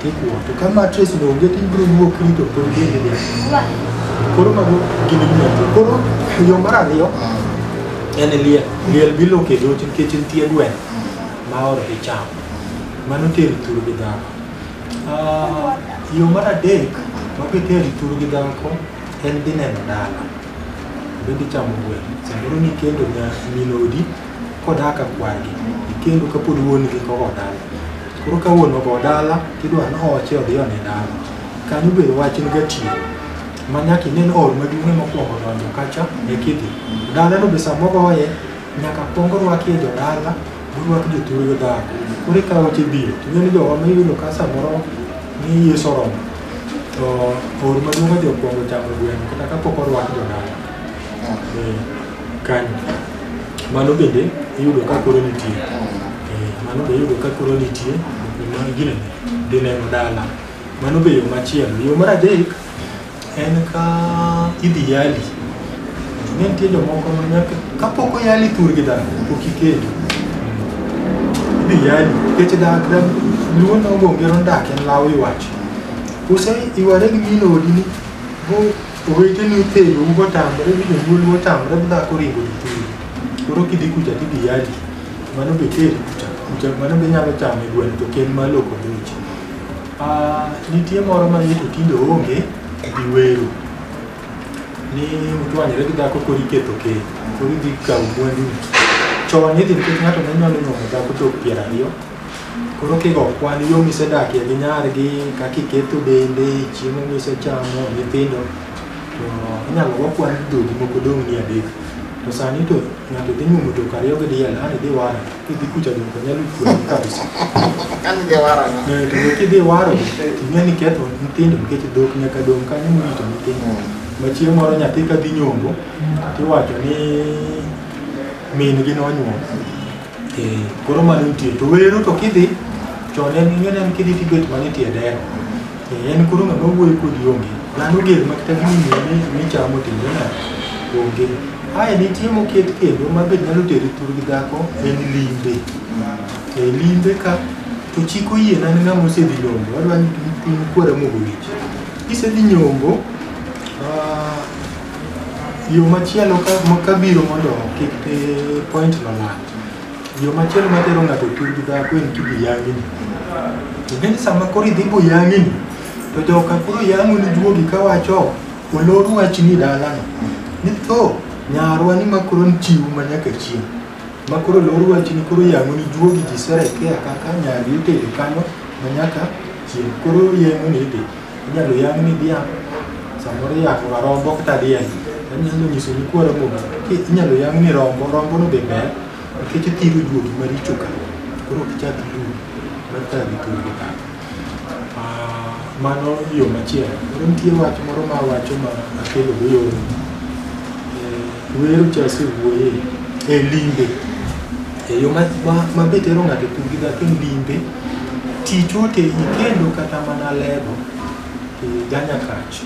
Kikuwo. To ka mattress no onge to ibiro luwo krito kod bende de. Koro mago gin gimati. Koro yo mar ariyo en liel. Liel biloko e dhochi nikech nitie gwen ma oro gi cham. Mano tero thuru gi dhako. Ah, Yo mar adek ma kitero thuru gi dhako en dhi neno dala. Bende chamo gwen. Samoro ni kendo nya minodi kodak akwargi. Kendo kapod wuon gi kogo dala. Koro ka wuon ogo dala tidwa ni oche odhi one dala. Kanyo be wach en gatiyo. Ma nyaka ine ni ot maduong' ema okwongo donjo kacha e kidhi. Dalano be sama ogoye nyaka kwong orwakie jodala morwak jothurgo dhako. Koro eka oche biro. To ing'e ni jowa ma iyudo ka samoro ni Yesu oromo to or maduong' odhi okwongo chamo gweno kata kapok orwak jodala. Eh. kanyo mano bende iyudo ka koro nitie Eh, mano be iyudo ka koro nitie mano gine dhi neno dala mano be yo machielo yo mar adek en ka idhi yali ne nitie jomoko ma nyaka kapok oyali thur gi dhano pok iketo idhi yali nikech dak dak luo nogo ngero ndak en law iwacho kose iware gi mino odini go Oweteni oterou motamre mi jonyuol motamre mi dhako oringo dhi teri. Koro kidhi kucha tidhi yadi. Mano be teri kucha. Kucha mano be nyalo chame gweno to ken ma loko dhoji. Ah, nitie moro ma yeto tinde onge gi wero. Ni uchwanyore gi dhako koro iketho keny. Koro idhi kawo mwandu. Chon idhi nikech ng'ato ne nyalo nyuomo dhako chop piero ariyo. Koro kigo kwan yo misedakie gi nyargi, kaka iketho dende, chiemo misechamo, nyithindo, to inyalo go kwan dhogi moko dong' ni adek. To sani to ng'ato dhi nyuomo dhok ariyo gi diel, an idhi wara, kidhi kucha dhok to nyalo kuomi kabisa. An idhi wara na. Eh, To dhok idhi waro, ing'e ni ketho nyithindo nikech dhok nyaka dong' kanyo morito nyithindo. Ma chieng' moro nyathi ka dhi nyombo, tiwacho ni min gi nonyuomo. Eh, koro mano nitie to wero to kidhi to ne ing'e ne kidhi tibet mana e tie dero Eh, en koro ng'ama wuoyo kodi onge dhano ger ma kata gini mi- michamo tindo na onge ae nitie moket kendo ma be nyalo teri thur gi dhako en limbe e limbe ka to chiko yie na ne ng'ama osedhi nyombo wadwa ni piny kwara mogo wich kisedhi nyombo ah, Yo machielo kabiro mondo kik point no lal. Yo machielo matero ng'ato tur gi dhako en kibi yang'ini. Ingeni sama koro idhi bo yang'ini to joka koro yang'oni juogi kawacho olor wachni dalano. Ni tho nyarwa ni ma koro nchiwu ma nyaka chieng'. Ma koro olor wachni koro yang'oni juogi jiserekea kaka nyari itero kanyo ma nyaka chieng'. Koro yeng'oni idhi. Inyalo yang' ni dhiang', samoro iyako ga rombo kata diel, en inyalo nyiso ni kwaro muma. Ki- Inyalo yang' ni rombo, rombo no be ber, nikech othiro juogi maricho ka. Koro ok ichak iluw, mar ka gi thuolo ka. Ah, Mano yo machielo. Koro nitie wach moro ma awacho ma akelo go yo wero cha asewuoye e limbe e yo ma- ma- ma be tero ng'ato e thurgi dhako e limbe Tich otegi kendo kata mana lego e Ganyakach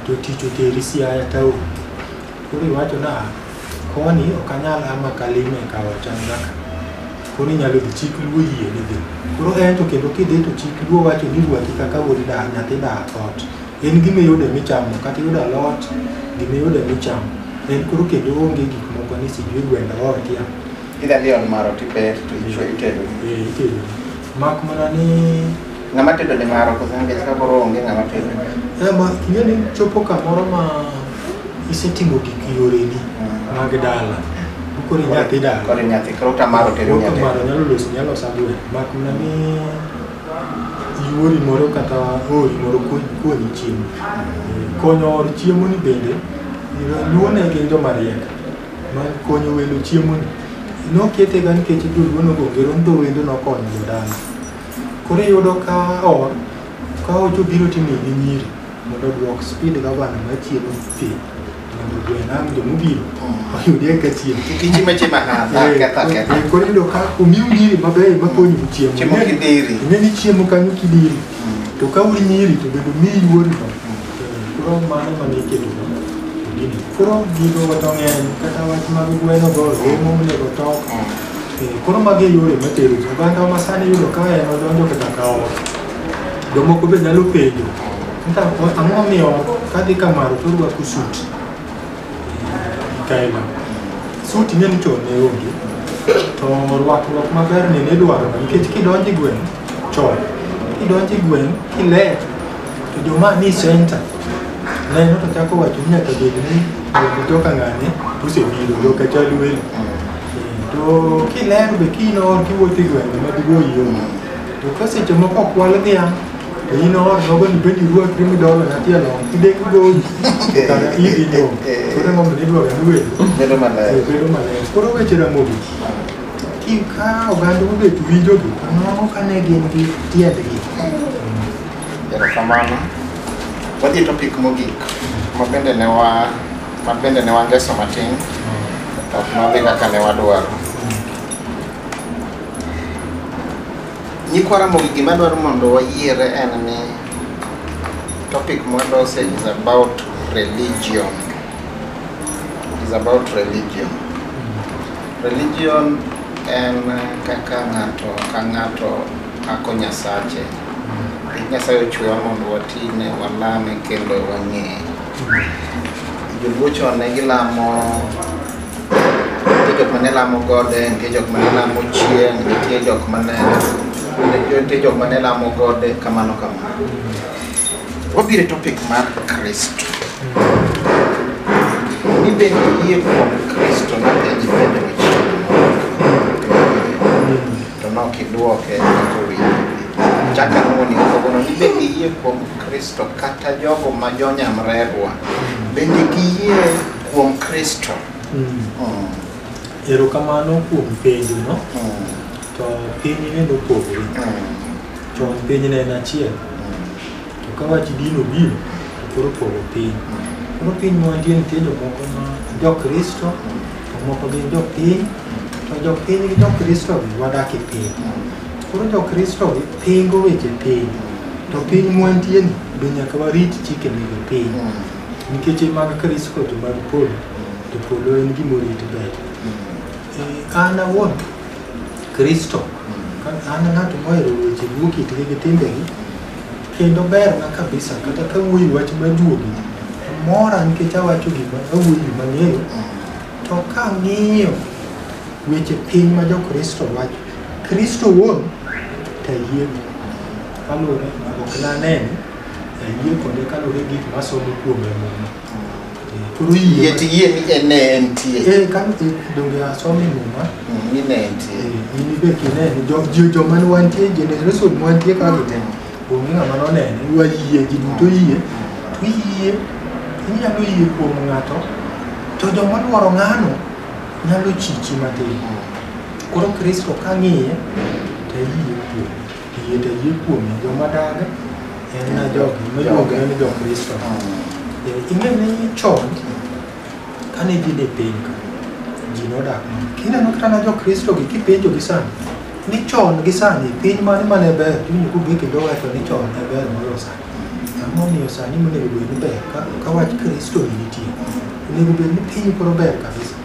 to tich oteri Siaya taon. Koro iwacho na koni ok anyal ama kalime e kawa changa ka. Koro inyalo dhi chik luo yie ni dhi. Koro en to kendo kidhi to chik luo wacho ni ruaki kaka wuod da nyathi da ot. En gima iyude michamo kata iyudo alot gima iyude michamo. En koro kendo onge gik moko ni sijui gwenda otia. Idha liel maro tiber to ichwe itedo. Eh, itedo. Mak mana ni Ng'ama tedo ni maro kosa nikech ka koro onge ng'ama tedo. eh, ma ing'e ni chopo kamoro ma isetimo gik yoreni mag dala. Koro inyathi dala. Koro nyathi koro tamaro tedo Wuok nyathi. maro nyalo loso nyalo loso agwen. Mak mana ni yuori moro kata ori moro kuo- kuonyi chiemo. Eh, Konyo or chiemo ni bende luwone gin joma riek. ma konyo welo chiemoni noketega nikech joluo nogo ngero ni to wendo nokonyo jodala koro iyudo ka or ka ocho biro timi gi nyiri mondo odwok speed gavana ma chiemo piny mondo gwenam jomobiro oyudie ka chiemo Tiji meche mahana, ketha ketha. Eh, koro iyudo ka omiu nyiri mabeyo makonyo gi chiemo Chiemo kidhiri. ing'e ni chiemo kanyo kidiri to ka uri nyiri to bende omiyi yuori Koro mano mane iketo gini. Koro gigo to ng'eny kata wach mag gweno go romo monego tok. Eh, Koro magi e yore matero ji. Oganda ma sani yudo ka en odonjo kata ka ot. Jomoko be nyalo penjo. Nta ang'o momiyo kadhi kamaro to orwako sut? Kaila. Sut ing'e ni chon ne onge. To rwakruok maber ni ne idwaro nikech kidonjo e gweng' Chon, kidonjo e gweng' kiler to joma ni center neno to chako wacho ni nyaka bed ni jogo joka ng'ane osebiro joka chal welo. To kiler be kinor kiwuotho e gwenge madigo iyomo. To ka seche moko okwal dhiang' to in or nogo ni bedi ruakri midolo nyathi along kidek goyi kata idhi nyom. Koro emomiyo idwaro ni welo Bedo maler. bedo maler. Koro weche Ramogi Ka oganda obet winjogi, mano ka ne gin gi tiendgi. Erokamano. Wadhi e topic mogik ma bende ne wa ma bende ne wangeso matin to ok nodhi kaka ne wadwaro. Nyikwa Ramogi gima dwaro mondo wayiere en ni topic mwadose is about religion. Is about religion. Religion en kaka ng'ato ka ng'ato pako Nyasache. Nyasaye ochwewa mondo watine, walame kendo wang'eye. Joluo chon ne gilamo nitie jok mane lamo gode, nitie jok mane lamo chieng', nitie jok mane nitie jok mane lamo gode kamano kamano. wabiro e topic mar kristo ni bende yie kuom kristo napenji penjo to nok idwoke kowinjo chaka nuoni kogono ni bende yie kuom kristo kata jogo ma jonyamrerwa bende giyie kuom kristo erokamano kuom penjo no to piny neno pogre Chon piny ne en achiel, to ka wach din obiro, to koro pogo piny. Koro piny ma wantie nitie jomoko ma jokristo, to moko gin jopiny, to jopiny gi jokristogi wadak e piny. Koro jokristogi pingo weche piny, to piny ma wantieni be nyaka warit chike mag piny. Nikech e mag Kristo to mag polo, to polo en gima orit ber. Eh, An awuon Kristo. An ng'at mohero weche luwo kitgi gi timbegi kendo berna kabisa kata ka wuoyi wach majuogi mora nikech awacho gima awuoyi gima ng'eyo to ka ng'iyo weche piny ma jokristo wacho kristo wuon to ayiego kaluwore ok nanene ayie kode kaluwore gik masomo kuome muma Koro yie yie tiyie ni en ne entie Eh, ka eh, donge asomi muma Mm, ni ne entie Eh, in be kineno jo- jo- joma ne wantie generation mwantie ka gite onge ng'ama nonene iwa yie ji duto yie to iyie inyalo yie kuom ng'ato to joma dwaro ng'ano nyalo chichi matin koro kristo ka ng'iye to iyie kuome Yie to yie kuome joma dag en na jogi miluongo ni jokristo Eh, ing'e ni chon kane ji ne piny ka ji nodak mana kineno kata na jokristo gi kipenjo gi sani ni chon gi sani piny mane mane ber tiwinjo kugi kendo wacho ni chon ne ber moloyo sani ang'o miyo sani monego bed ni ber ka- ka wach kristo ni nitie onego bed ni piny koro ber kabisa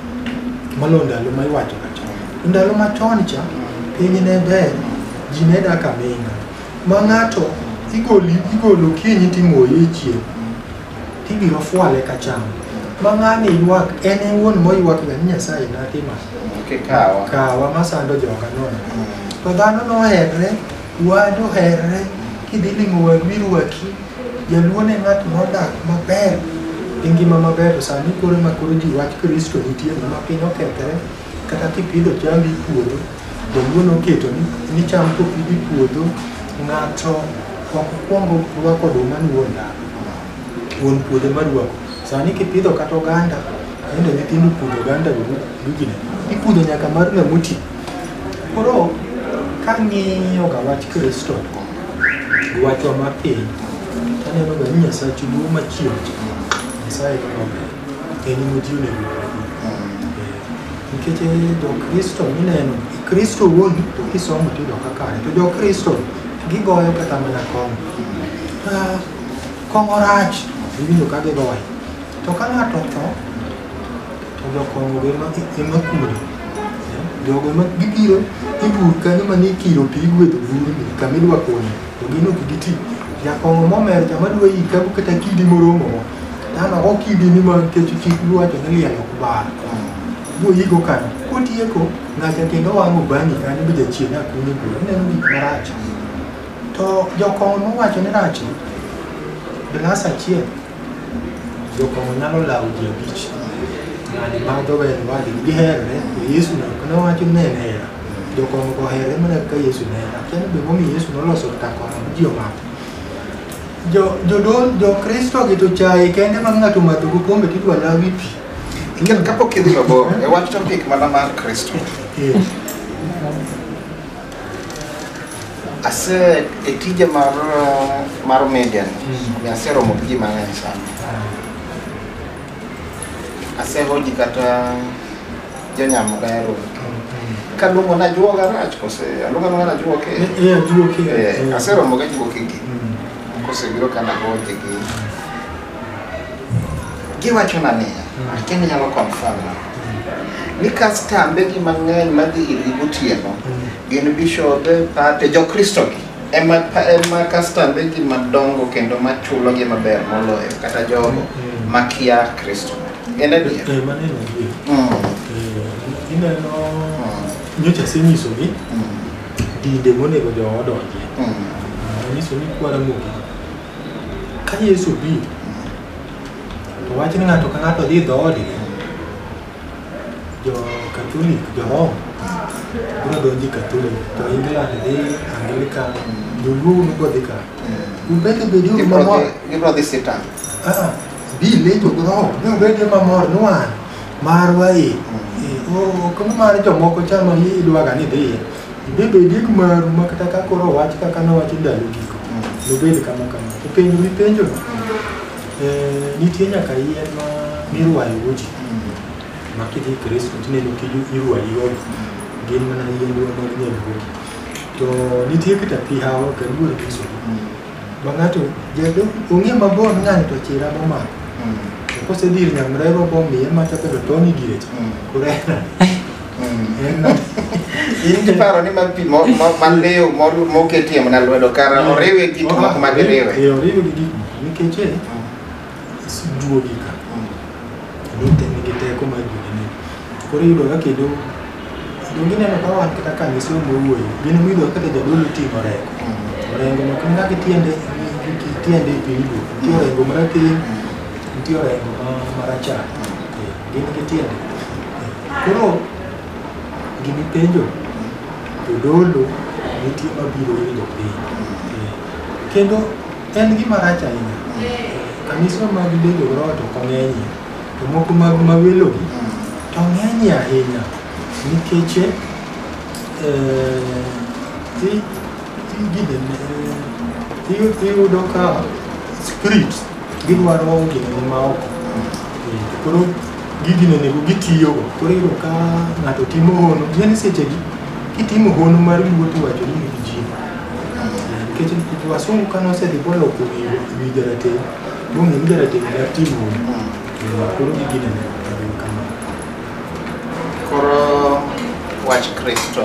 Mano ndalo ma iwacho ka chon. Ndalo ma chon cha piny ne ber, ji ne dak aming'a. Ma ng'ato igoli igolo kinyi timoye e chieng' tibiro fwale ka cham. Ma ng'ani ywak en e wuon moywak ga ni Nyasaye natima Kikawa. kawa masando joga nono. To dhano noherre Wadu herre kidhi limo wadu irwaki. Jaluo ne ng'at modak maber gi ngima maber to sani koro ma koro ji wach Kristo nitie ma piny okethre kata kipidho cham e puodho jaluo noketo ni ni cham kopidh e puodho ng'ato ok kwongo rwako oduma ni wuon dala wuon puodho ema rwako. Sani kipidho kata oganda, tinde nyithindo pudho oganda go dukni. Ipudho nyaka mar ng'ama oti. Koro kang'iyoga wach Kristo gi wachwa mar piny, taneno ga ni Nyasachu duong' machien Nyasaye en maber, en emoji onego obedi. Nikech jo-Kristo mineno, Kristo wuon to kisomo tiyudo ka kare, to jo-Kristo gigoyo kata mana kong'o. Ah, Kong'o rach, iwinjo ka gigoyo. To ka ng'ato otho, To jokongo be ema ema kuro. Jogo ema gibiro ibur kanyo mane ikiro pi igwedho buruni kama idwa kunyo to gin ok giti. Jakongo momer jama dwa yi kabu kata kidi moromo mo. Tano ok kidi ni ma nikech chik luwacho ni liel ok bar. Boyigo kanyo. Kotieko ng'acha kendo wang'o bang'i kanyo be jachien akunyo bur. Ineno gik marach. To jokongo mowacho ni rach ni, glass achiel Jokong'o nyalo lawo ji abich. Ng'ani madho ber wadgi giherre, to Yesu ne ok nowacho ni en hera. Jokong'o go herre mana kaka Yesu ne hera. Akia ni be momiyo Yesu noloso ka kong'o ma ji omadho. Jo jodon jo Kristo gi to chaye kende ma ng'ato madho go kombe to idwa lawi pi. Kapok idhi mabor, e wach topic mana mar Kristo. Eh. Ase e tije mar mar media ni, mm. aseromo gi ji mang'eny sana. Asehoji kata jonyamo dayaro. Kaluongo na juoga rach kose aluongo na na juoke. Eh, eh, juoke. Eh, aseromo ga juoke gi. Mm. Kose biro kana hoji gi. Giwachona niya, kendo nyalo confirm na, ni kastambe gi mang'eny madhi irgi gotieno gin bishobe, pate, jokristo gi ema pa- ema kastambe gi madongo kendo machulo gi maber moloyo kata jogo makia Kristo. En adier. Eh, mano en adier. Mm, Eh, Ineno mm, nyocha asenyisogi mm, dinde monego jowa odonjie. mm. Anyiso ni kwara mogik Ka Yesu obiro, to wach ni ng'ato ka ng'ato dhi e dhoodgi, jo Katolik, jo Roma, biro donjo e Katolik, jo England dhi Anglican, joluo unu go dhi ka. Ubed obedi uru Gibro mamor. dhi- gibro dhi sitang. Ah, bile to gro, ne ubedi mamor nwan. Marwa e. Eh, o- o- Kama mar jomoko chano idwaga ni dhi. Bende ondiek maru ma kata ka koro owach kaka nowacho ndalo giko, nobed kama kama. To penjo mipenjo, eh, nitie nyaka yien ma mirwayogo ji ma kidhi Kristo tineno kiju irwayigo gin mana yien wa mag nyalruogi. To nitie kata pi hawa ka luor Kristo. Ma ng'ato jado ong'e mabor ng'ani to chira momako. To kosedhi ir nyamrerwa bomiye mata kata toni direcha. Kurena. in kiparo ni mar pi mo- mo- mar lew mor- moketie mana lwedo kara oriwe gik moko mag riwe Eh, oriwe gi gik nikech eh, siduogi ka kendo te- nigi teko mar jogine koro iyudo ka kendo kendo gineno ka wan kata ka nyiso mowuoyo gin miyudo ka kata jadolo ting'o reko orengo no kendo kaka itiende itiende e piny duok nitie orengo marateng' nitie orengo ma- marachar Eh, gin gi tiende Koro gini penjo jodolo nitie mabiro winjo piny kendo en gima rach ahinya kanisa mag bedo roho to kong'enyie to moko mag mawelogi to ng'enyie ahinya nikech iyudo ka spirit gidwaro ginene maoko koro gigi ne nego gitiyogo koro iyudo ka ng'ato timo hono yani sechegi kitimo hono mar luoti wacho ni nigi ji nikech wasungu kane osedhi boloko wi jarateng' bong'e ni jarateng' mar timo hono koro gigi ne nego kama koro wach kristo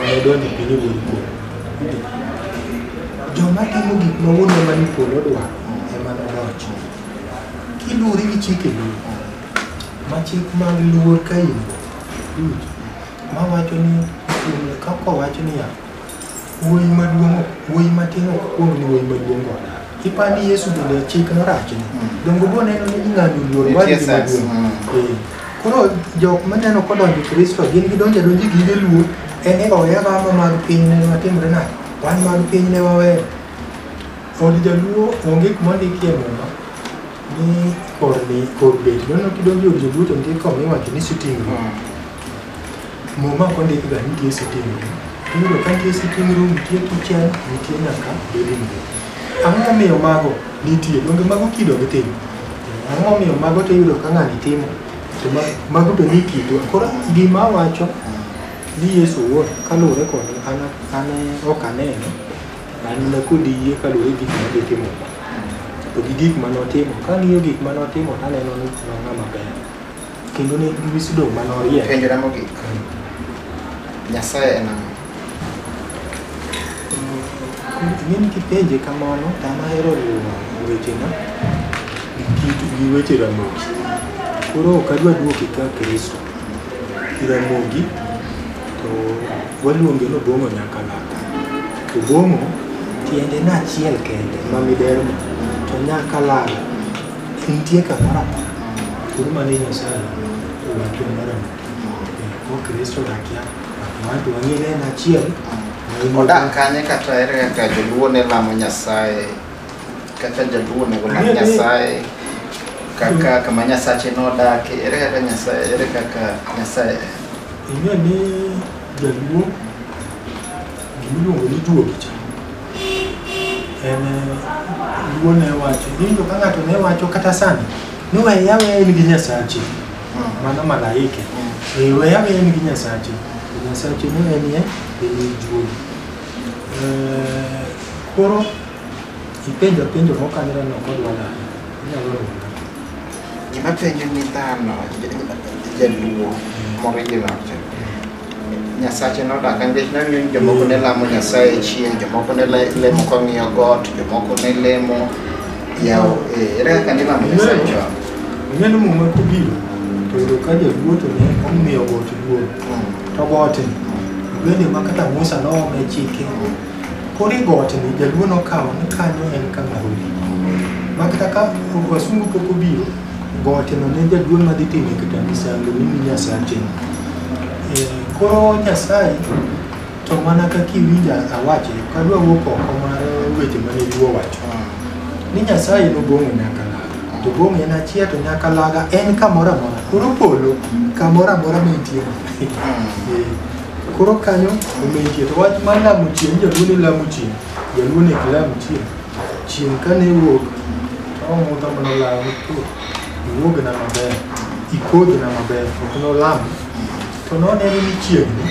Wadonjo piny wuod kuom. Joma timo gik ma wuonwa ma ni polo dwaro ema nodonj. Kiluwori gi chike luo, ma chik mag luor ka in ma wacho ni kaka wacho niya Wuoyi maduong' wuoyi matin ok kuong ni wuoyi maduong' go nade. Ipa ni Yesu bende chik norach ni. Dongo bo neno ni ing'ado luor Nitie wadgi sense, maduong'. mm. Eh, Koro jok maneno kodonjo e Kristo gin gidonjo adonji gige luor en e oya gama mag piny ne matimre nade. Wan mag piny ne waweyo. Od jaluo onge kuma ndikie muma ni kor ni kor bet. Dono kidonjo e od jaluo to nitie kama iwacho ni sitting room. Mm. Muma ok ondikga ni nitie siting' rum. Iyudo ka nitie siting' rum, nitie kichen, nitie nyaka living room. Ang'o momiyo mago nitie? Donge mago kido gi tim? Ang'o momiyo mago to iyudo ka ng'ani timo? To ma- mago be ni kitwa. Koro gima awacho ni Yesu owuon kaluwore kod an an ok aneno, an mana kod yie kaluwore gi gik ma gitimo. To gi gik ma notimo, kang'iyo gik ma notimo to aneno ni en ng'ama ber. kendo ne iwi sidong' ma norie penjona mogik nyasaye en ang'o ing'e ni kipenje kamano tama hero riwo wechena gi kit gi weche ramogi koro ok adwa duoke ka kristo ramogi to waluonge nobong'o nyaka laka to bong'o tiende na achiel kende ma miderma to nyaka lala Nitie kamoro kuru mane Nyasaye owacho mara ko Kristo dakia watu wang'ere en achiel Odak kanye kata ere kaka joluo ne lamo Nyasaye, kaka jaluo onego lam Ng'e ni- Nyasaye, kaka kama Nyasache nodake, ere kaka Nyasaye, ere kaka Nyasaye en. ing'e ni jaluo Gimiluongo ni duogi cha en luo ne wacho nindo ka ng'ato ne wacho kata sani ni weya weya in gi nyasachi mano malaike Eh, weya weya in gi nyasachi To nyasachi ne en ye en duogi Eh, koro ipenjo penjo mokanira no kod wala inyalo rona Gima penjo ni dhano, jaluo, moriginal cha. Nyasache nodaka nikech nang'eyo ni jomoko ne lamo Nyasaye chieng', jomoko ne le- lemo kong'iyo got, jomoko ne lemo yawo eh, ere kaka nilamo Nyasaye chon? Ineno muma kobiro to yudo ka jaduo to ne omiyo got duong' to gote bende ma kata Musa noome chike koro i got ni jaduo nokawo ni kanyo en kama ruoth ma kata ka wasungu pok obiro Gowachona ne jaduong' madhi timo kata misango ni mi Nyasache. Eh, Koro Nyasaye to mana kaka iwinja awache, ok adwa wuok oko mar weche mane ji owacho. Ni Nyasaye nobong'o nyaka laga, to bong'o en achiel to nyaka laga en kamoro amora. Koro polo kamoro amora ma entie. Eh, Koro kanyo omentie to wach mar lamo chieng' jaluo ne lamo chieng', jaluo ne ok lam chieng'. Chieng' kane iwuok, omutha mana law to iwuogna maber, ikodhna maber, ok nolam. To noneno ni chiegni,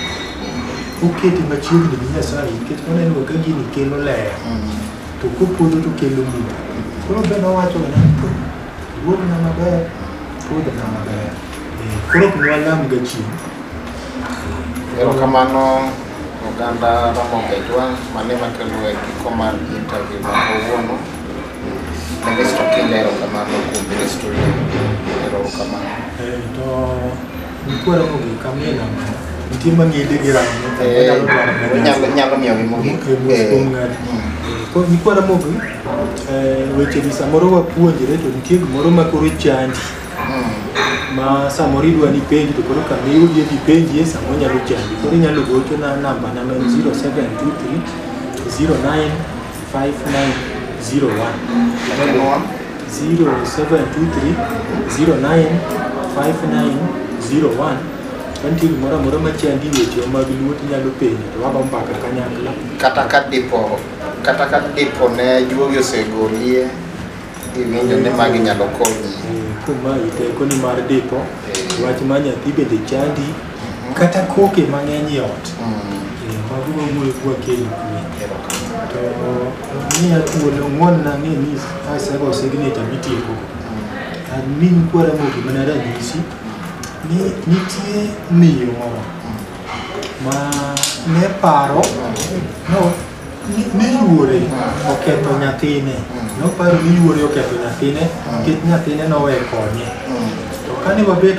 oketi machiegni gi Nyasaye, nikech noneno ka gini kelo ler, to kopodho to kelo mudho. Koro be nowacho ni to iwuogna maber, ikodhna maber. Eh, Koro ok nwalam ga chieng'. Erokamano. Oganda Ramogi Ajwang' mane makelo e giko mar interview ma kawuono. Ministro Kinda erokamano kuom biro e studio. Erokamano. Eh, to nikwere Ramogi kamina nitie mang'ede gi rango Eh, nyalo nyalo miyo gi mogik. Eh, mm. Koro nikwere Ramogi eh, weche gi samoro wapuonjre to nitie gimoro ma koro chandi ma samoro idwa ni penji to koro ka miyudi idhi penji e samoro nyalo chandi koro inyalo gocho na namba na ma en 0723 095901 0723-095901 kantie gimoro amora machandi wechewa mag luo tinyalo penjo to wago mbaka kanyakla kata ka dipo kata ka dipo ne juogi osegolie Iwinjo ni magi nyalo konyi. Kuma iteko ni mar dipo, Eh. wach ma nyathi bende chandi, kata koke mang'eny e ot. Mm. Eh, Mago wawuoyo kwa keny kuwe. Erokamano. To miya thuolo ng'won na ng'e ni asego signature mitieko. Admin kwara mogi mana ranyisi ni nitie miyo moro ma ne paro no ni yuore oketho nyathine noparo ni yuore oketho nyathine nikech nyathine nowe konye to kane wabet